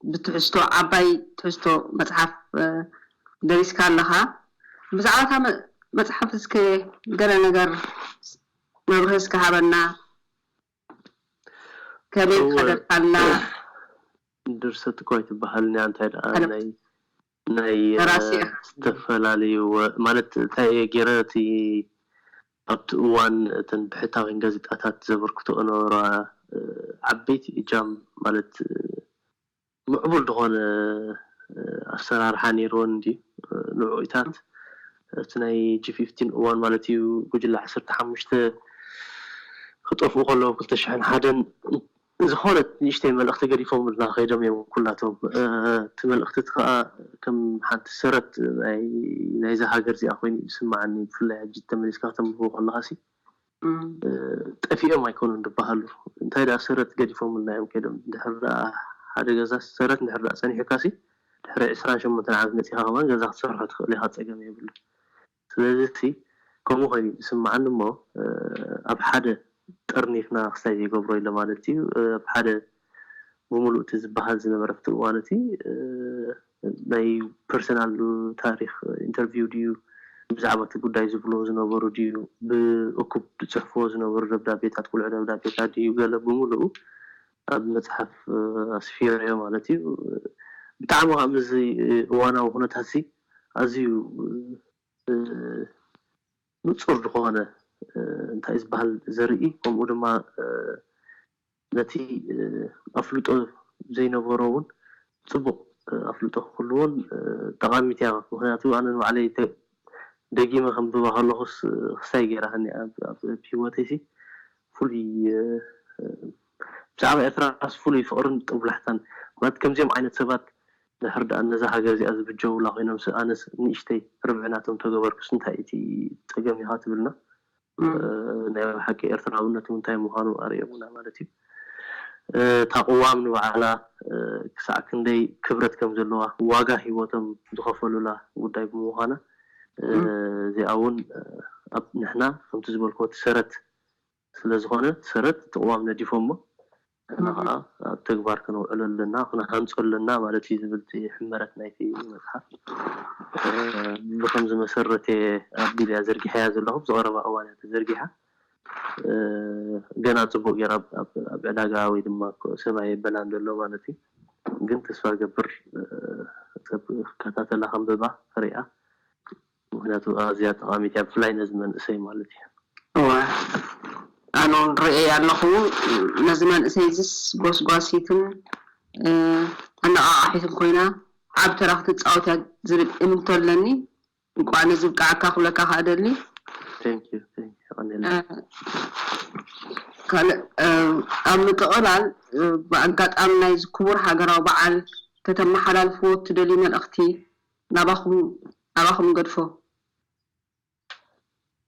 Speaker 4: ብትሕዝቶ ዓባይ ትሕዝቶ መጽሓፍ ደሪስካ ኣለኻ። ብዛዕባ እታ መጽሓፍ እስከ ገለ ነገር መብርሂ እስከ ሃበና። ከመይ እወ፣ ዝኸደካላ?
Speaker 3: ድርሰት እኳ ኣይትበሃልን እያ፣ እንታይ ደኣ ናይ ናይ ደራሲ ኢኻ። ዝተፈላለዩ ማለት እንታይ እየ ጌረ እቲ ኣብቲ እዋን እተን ብሕታውያን ጋዜጣታት ዘበርክትኦ ዝነበራ ዓበይቲ እጃም ማለት ምዕቡል ዝኾነ ኣሰራርሓ ኔርወን እንድዩ ንዕኡታት ኣብቲ ናይ ጂ ፊፍቲን እዋን ማለት እዩ ጉጅለ ዓሰርተ ሓሙሽተ ክጠፍኡ ከለዉ ክልተ ሽሕን ሓደን ዝኾነት ንእሽተይ መልእኽቲ ገዲፎምልና ከይዶም እዮም ኩላቶም። እቲ መልእኽቲ እቲ ከኣ ከም ሓንቲ ሰረት ናይዛ ሃገር እዚኣ ኮይኑ እዩ ዝስመዓኒ። ብፍላይ ሕጂ ተመሊስካ ከተንብቦ ከለኻሲ ጠፊኦም ኣይኮኑን ዝበሃሉ እንታይ ደኣ ሰረት ገዲፎምልና እዮም ከይዶም። ድሕሪ ደኣ ሓደ ገዛስ ሰረት እንድሕሪ ደኣ ጸኒሑካሲ ድሕሪ ዕስራን ሸሞንተን ዓመት መጺኻ ከማን ገዛ ክትሰርሖ ትኽእል ኢኻ ጸገም የብሉን። ስለዚ እቲ ከምኡ ኮይኑ እዩ ዝስመዓኒ እሞ ኣብ ሓደ ጠርኒፍና ክስታይ ዘይገብሮ ኢለ ማለት እዩ ኣብ ሓደ ብምሉኡ እቲ ዝበሃል ዝነበረ ኣብቲ እዋን እቲ ናይ ፐርሰናል ታሪኽ ኢንተርቪው ድዩ ብዛዕባ እቲ ጉዳይ ዝብልዎ ዝነበሩ ድዩ ብእኩብ ዝጽሕፍዎ ዝነበሩ ደብዳቤታት ቁልዒ ደብዳቤታት ድዩ ገለ ብምሉኡ ኣብ መጽሓፍ ኣስፊረዮ ማለት እዩ ብጣዕሚ ከኣ ምስዚ እዋናዊ ኩነታትዚ ኣዝዩ ንጹር ዝኾነ እንታይ እዩ ዝበሃል ዘርኢ ከምኡ ድማ ነቲ ኣፍልጦ ዘይነበሮ ውን ጽቡቕ ኣፍልጦ ክህልዎን ጠቓሚት እያ ምኽንያቱ ኣነ ንባዕለይ ደጊመ ከንብባ ከለኹስ ክስታይ ጌራትኒ እያ ኣብ ሂወተይሲ ፍሉይ ብዛዕባ ኤርትራስ ፍሉይ ፍቕርን ጥንቡላሕታን ማለት ከምዚኦም ዓይነት ሰባት ድሕር ድኣ ነዛ ሃገር እዚኣ ዝብጀዉላ ኮይኖምስ ኣነስ ንእሽተይ ርብዒ ናቶም ተገበርኩስ እንታይ እቲ ጸገም ኢኻ ትብልና ናይ ብሓቂ ኤርትራውነት ውን ታይ ምዃኑ ኣርእዮሙና ማለት እዩ እታ ቅዋም ንባዕላ ክሳዕ ክንደይ ክብረት ከም ዘለዋ ዋጋ ሂወቶም ዝኸፈሉላ ጉዳይ ብምዃና እዚኣ ውን ኣብ ንሕና ከምቲ ዝበልክዎ እቲ ሰረት ስለ ዝኾነ ሰረት እቲ ቅዋም ነዲፎሞ ንሕና ከኣ ኣብ ተግባር ከነውዕሎ ኣለና፣ ክንሃንጾ ኣለና ማለት እዩ ዝብል እቲ ሕመረት ናይቲ መጽሓፍ። ብኸምዚ መሰረት'የ ኣቢለ'ያ ዘርጊሐያ ዘለኹ፣ ኣብዚ ቀረባ እዋን'ያ ተዘርጊሓ። ገና ጽቡቕ ጌራ ኣብ ዕዳጋ ወይ ድማ ሰብ ኣየበላን ዘሎ ማለት እዩ። ግን ተስፋ እገብር ሰብ ክከታተላ ከንብባ ክርእያ። ምክንያቱ ኣዝያ ጠቃሚት እያ ብፍላይ ነዚ መንእሰይ ማለት እዩ። እወ
Speaker 4: ኣነ ውን ርእየያ ኣለኩ ነዚ መንእሰይ እዚስ ጎስጓሲትን ኣነቃቃሒትን ኮይና ዓቢ ተራ ክትጻወት እያ ዝብል እምንቶ ኣለኒ እንቋዕ ነዚ ብቃዓካ ክብለካ ከኣ እደሊ። Thank you
Speaker 3: thank you የቀንየለይ።
Speaker 4: ካልእ ኣብ ምጥቅላል ብኣጋጣሚ ናይዚ ክቡር ሃገራዊ በዓል ከተመሓላልፍዎ እትደልዩ መልእክቲ ናባኹም ናባኹም ንገድፎ።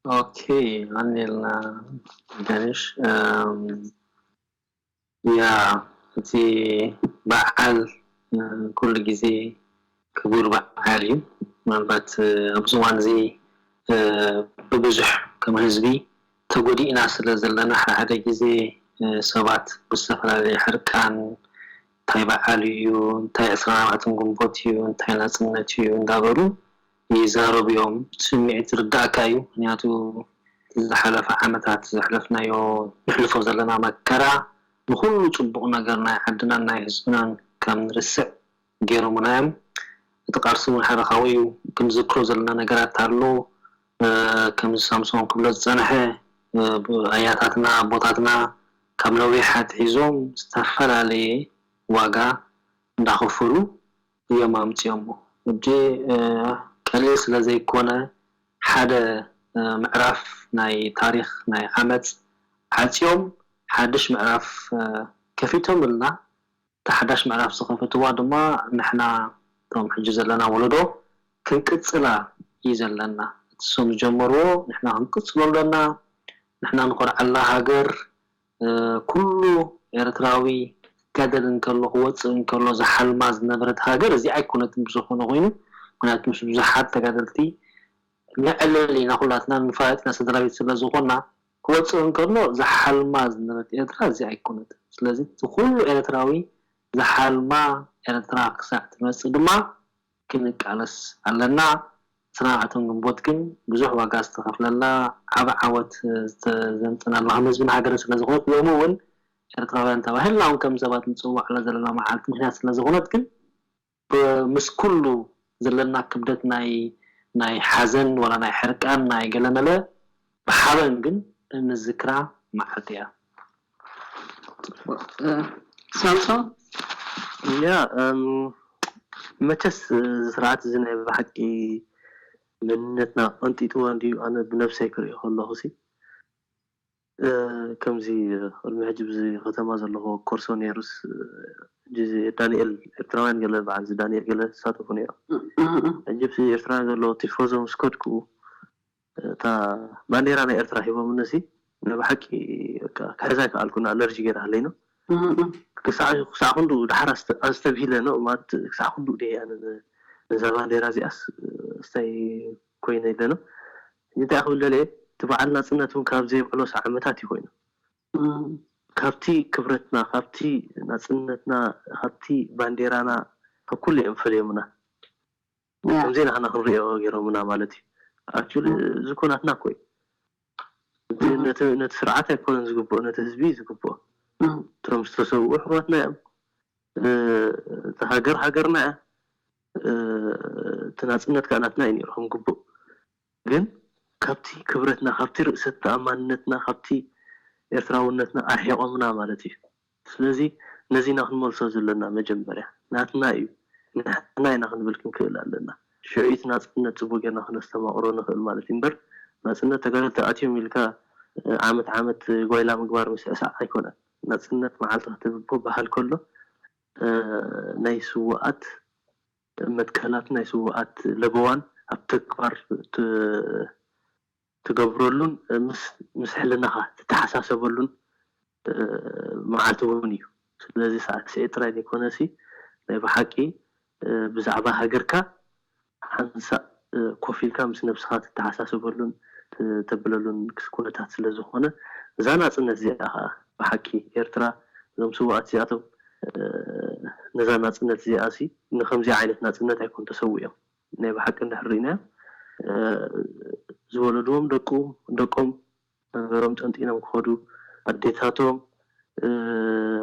Speaker 2: ኦኬ ኣኔልና ገነሽ ያ እቲ በዓል ኩሉ ግዜ ክቡር በዓል እዩ ምናልባት ኣብዚ እዋን እዚ ብብዙሕ ከም ህዝቢ ተጎዲእና ስለ ዘለና ሓደ ሓደ ግዜ ሰባት ብዝተፈላለየ ሕርቃን እንታይ በዓል እዩ፣ እንታይ ዕስራን ኣርባዕተን ግንቦት እዩ፣ እንታይ ናጽነት እዩ እንዳበሉ ይዛረቡ እዮም። እቲ ስምዒት ዝርደኣካ እዩ፣ ምኽንያቱ እቲ ዝሓለፈ ዓመታት ዘሕለፍናዮ ነሕልፎ ዘለና መከራ ንኹሉ ጽቡቕ ነገር ናይ ዓድናን ናይ ህዝብናን ከም ንርስዕ ጌሮሙና እዮም። እቲ ቃልሲ እውን ሓደ ካብኡ እዩ፣ ክንዝክሮ ዘለና ነገራት ኣሎ። ከምዚ ሳምሶን ክብሎ ዝጸንሐ ኣያታትና ኣቦታትና ካብ ነዊሕ ኣትሒዞም ዝተፈላለየ ዋጋ እንዳኸፈሉ እዮም ኣምጺኦሞ ሕጂ ቀሊል ስለ ዘይኮነ ሓደ ምዕራፍ ናይ ታሪኽ ናይ ዓመጽ ዓጽዮም ሓድሽ ምዕራፍ ከፊቶምልና እታ ሓዳሽ ምዕራፍ ዝኸፈትዋ ድማ ንሕና እቶም ሕጂ ዘለና ወለዶ ክንቅጽላ እዩ ዘለና። እቲ እሶም ዝጀመርዎ ንሕና ክንቅጽሎ ኣሎና። ንሕና ንኾርዓላ ሃገር ኩሉ ኤርትራዊ ክጋደል እንከሎ ክወጽእ እንከሎ ዝሓልማ ዝነበረት ሃገር እዚኣ ኣይኮነትን ብዝኾነ ኮይኑ ምኽንያቱ ምስ ብዙሓት ተጋደልቲ ንዕልል ኢና ኩላትና ንፋለጥ ኢና ሰድራቤት ስለዝኾና ክወጽእ እንከሎ ዝሓልማ ዝነበረት ኤርትራ እዚ ኣይኮነትን። ስለዚ እቲ ኩሉ ኤረትራዊ ዝሓልማ ኤረትራ ክሳዕ ትመጽእ ድማ ክንቃለስ ኣለና። ንስና እቶም ግንቦት ግን ብዙሕ ዋጋ ዝተኸፍለላ ዓቢ ዓወት ዘምጸናላ ከም ህዝብን ሃገርን ስለ ዝኾነት ሎሚ ውን ኤረትራውያን ተባሂልናውን ከም ሰባት ንጽዋዓላ ዘለና መዓልቲ ምክንያት ስለ ዝኾነት ግን ምስ ኩሉ ዘለና ክብደት ናይ ናይ ሓዘን ዋላ ናይ ሕርቃን ናይ ገለመለ ብሓበን ግን እንዝክራ መዓልቲ እያ። ጽቡቅ
Speaker 4: ሳምሶም
Speaker 3: እያ መቸስ እዚ ስርዓት እዚ ናይ ብሓቂ መንነትና ቀንጢጥዎ እንድዩ ኣነ ብነብሰይ ክርእዮ ከለኩ ሲ። ከምዚ ቅድሚ ሕጂ ብዚ ከተማ ዘለኹ ኮርሶ ነይሩስ ሕጂ ዳኒኤል ኤርትራውያን ገለ በዓል እዚ ዳኒኤል ገለ ይሳተፉ ነይሮም ሕጂ ኣብቲ ኤርትራውያን ዘለዎ ቲፎዞ ምስ ከድኩ እታ ባንዴራ ናይ ኤርትራ ሂቦምኒ ሲ ናይ ብሓቂ በቃ ክሕዛ ኣይከኣልኩን ኣለርጂ ገይራ ሃለይኖ ክሳዕ ክሳዕ ክንድኡ ደሓር ኣስተብሂለ ን ማለት ክሳዕ ክንድኡ ድየ ኣነ ነዛ ባንዴራ እዚኣስ እስታይ ኮይኑ ኣለና ሕጂ እንታይ ክብል ደልየ እቲ በዓል ናጽነት ውን ካብ ዘይብዕሎስ ዓመታት እዩ ኮይኑ ካብቲ ክብረትና ካብቲ ናጽነትና ካብቲ ባንዴራና ካብ ኩሉ እዮም ፈልዮምና ከምዘይ ናህና ክንሪኦ ገሮምና ማለት እዩ ኣክቹሊ እዚ እኮ ናትና እኮ እዩ ነቲ ነቲ ስርዓት ኣይኮነን ዝግብኦ ነቲ ህዝቢ እዩ ዝግብኦ እቶም ዝተሰውኡ ኣሕዋትና እዮም እታ ሃገር ሃገርና እያ እቲ ናጽነት ከኣ ናትና እዩ ኔሩ ከም ግቡእ ግን ካብቲ ክብረትና ካብቲ ርእሰ ተኣማንነትና ካብቲ ኤርትራውነትና ኣርሒቖምና ማለት እዩ ስለዚ ነዚ ኢና ክንመልሶ ዘለና መጀመርያ ናትና እዩ ንሕና ኢና ክንብል ክንክእል ኣለና ሽዑ እቲ ናጽነት ጽቡቕ ጌርና ክነስተማቕሮ ንኽእል ማለት እዩ እምበር ናጽነት ተጋደልቲ ኣትዮም ኢልካ ዓመት ዓመት ጓይላ ምግባር ምስዕሳዕ ኣይኮነን። ናጽነት መዓልቲ ከተብቦ በሃል ከሎ ናይ ስዉኣት መትከላት ናይ ስዉኣት ለበዋን ኣብ ተግባር ትገብረሉን ምስ ሕልናኻ ትተሓሳሰበሉን መዓልቲ ውን እዩ ስለዚ ሳዕስዒት ጥራይ ዘይኮነሲ ናይ በሓቂ ብዛዕባ ሃገርካ ሓንሳእ ኮፍ ኢልካ ምስ ነብስኻ ትተሓሳሰበሉን ተብለሉን ኩነታት ስለ ዝኾነ እዛ ናጽነት እዚኣ ከኣ ብሓቂ ኤርትራ እዞም ስውኣት እዚኣቶም ነዛ ናጽነት እዚኣ'ሲ ንኸምዚ ዓይነት ናጽነት ኣይኮን ተሰዊኦም ናይ ብሓቂ እንድሕር ርኢናዮ ዝወለድዎም ደቁ ደቆም መንበሮም ጠንጢኖም ክኸዱ፣ ኣዴታቶም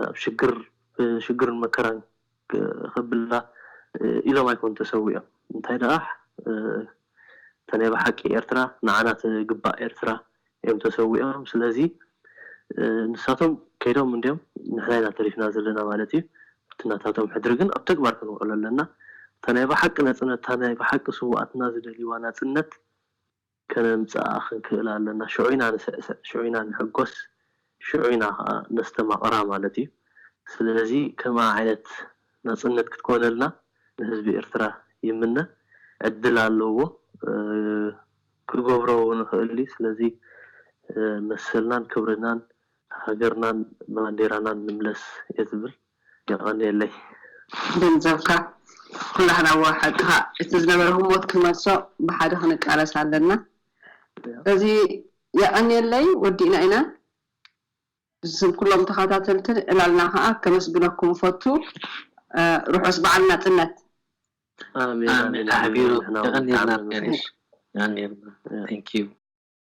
Speaker 3: ኣብ ሽግር ብሽግርን መከራን ከብላ ኢሎም ኣይኮኑን ተሰዊኦም። እንታይ ደኣ እታ ናይ ብሓቂ ኤርትራ ንዓና ትግባእ ኤርትራ እዮም ተሰዊኦም። ስለዚ ንሳቶም ከይዶም እንድዮም ንሕና ኢና ተሪፍና ዘለና ማለት እዩ። እቲ ናታቶም ሕድሪ ግን ኣብ ተግባር ከንውዕሎ ኣለና። እታ ናይ ብሓቂ ናጽነት እታ ናይ ብሓቂ ስውኣትና ዝደልይዋ ናጽነት ከነምጽኣ ክንክእል ኣለና። ሽዑ ኢና ንስዕስዕ፣ ሽዑ ኢና ንሕጎስ፣ ሽዑ ኢና ከኣ ነስተማቕራ ማለት እዩ። ስለዚ ከምኣ ዓይነት ናጽነት ክትኮነልና ንህዝቢ ኤርትራ ይምነ። ዕድል ኣለዎ፣ ክገብሮ እውን ይኽእል እዩ። ስለዚ መሰልናን ክብርናን ሃገርናን ባንዴራናን ንምለስ እየ ዝብል። የቐንየለይ።
Speaker 4: ገንዘብካ ኩሉ ሃላዋ ሓቅኻ እቲ ዝነበረ ህሞት ክንመልሶ ብሓደ ክንቃለስ ኣለና እዚ የቐንየለይ ወዲእና ኢና ብስም ኩሎም ተኻታተልቲ ዕላልና ከኣ ከመስግነኩም እፈቱ ርሑስ በዓል ናጽነት። ኣሜን
Speaker 2: ኣሜን ኣሕቢሩ የቀንየልና
Speaker 3: ፍቃድሽ
Speaker 2: የቀንየልና thank you።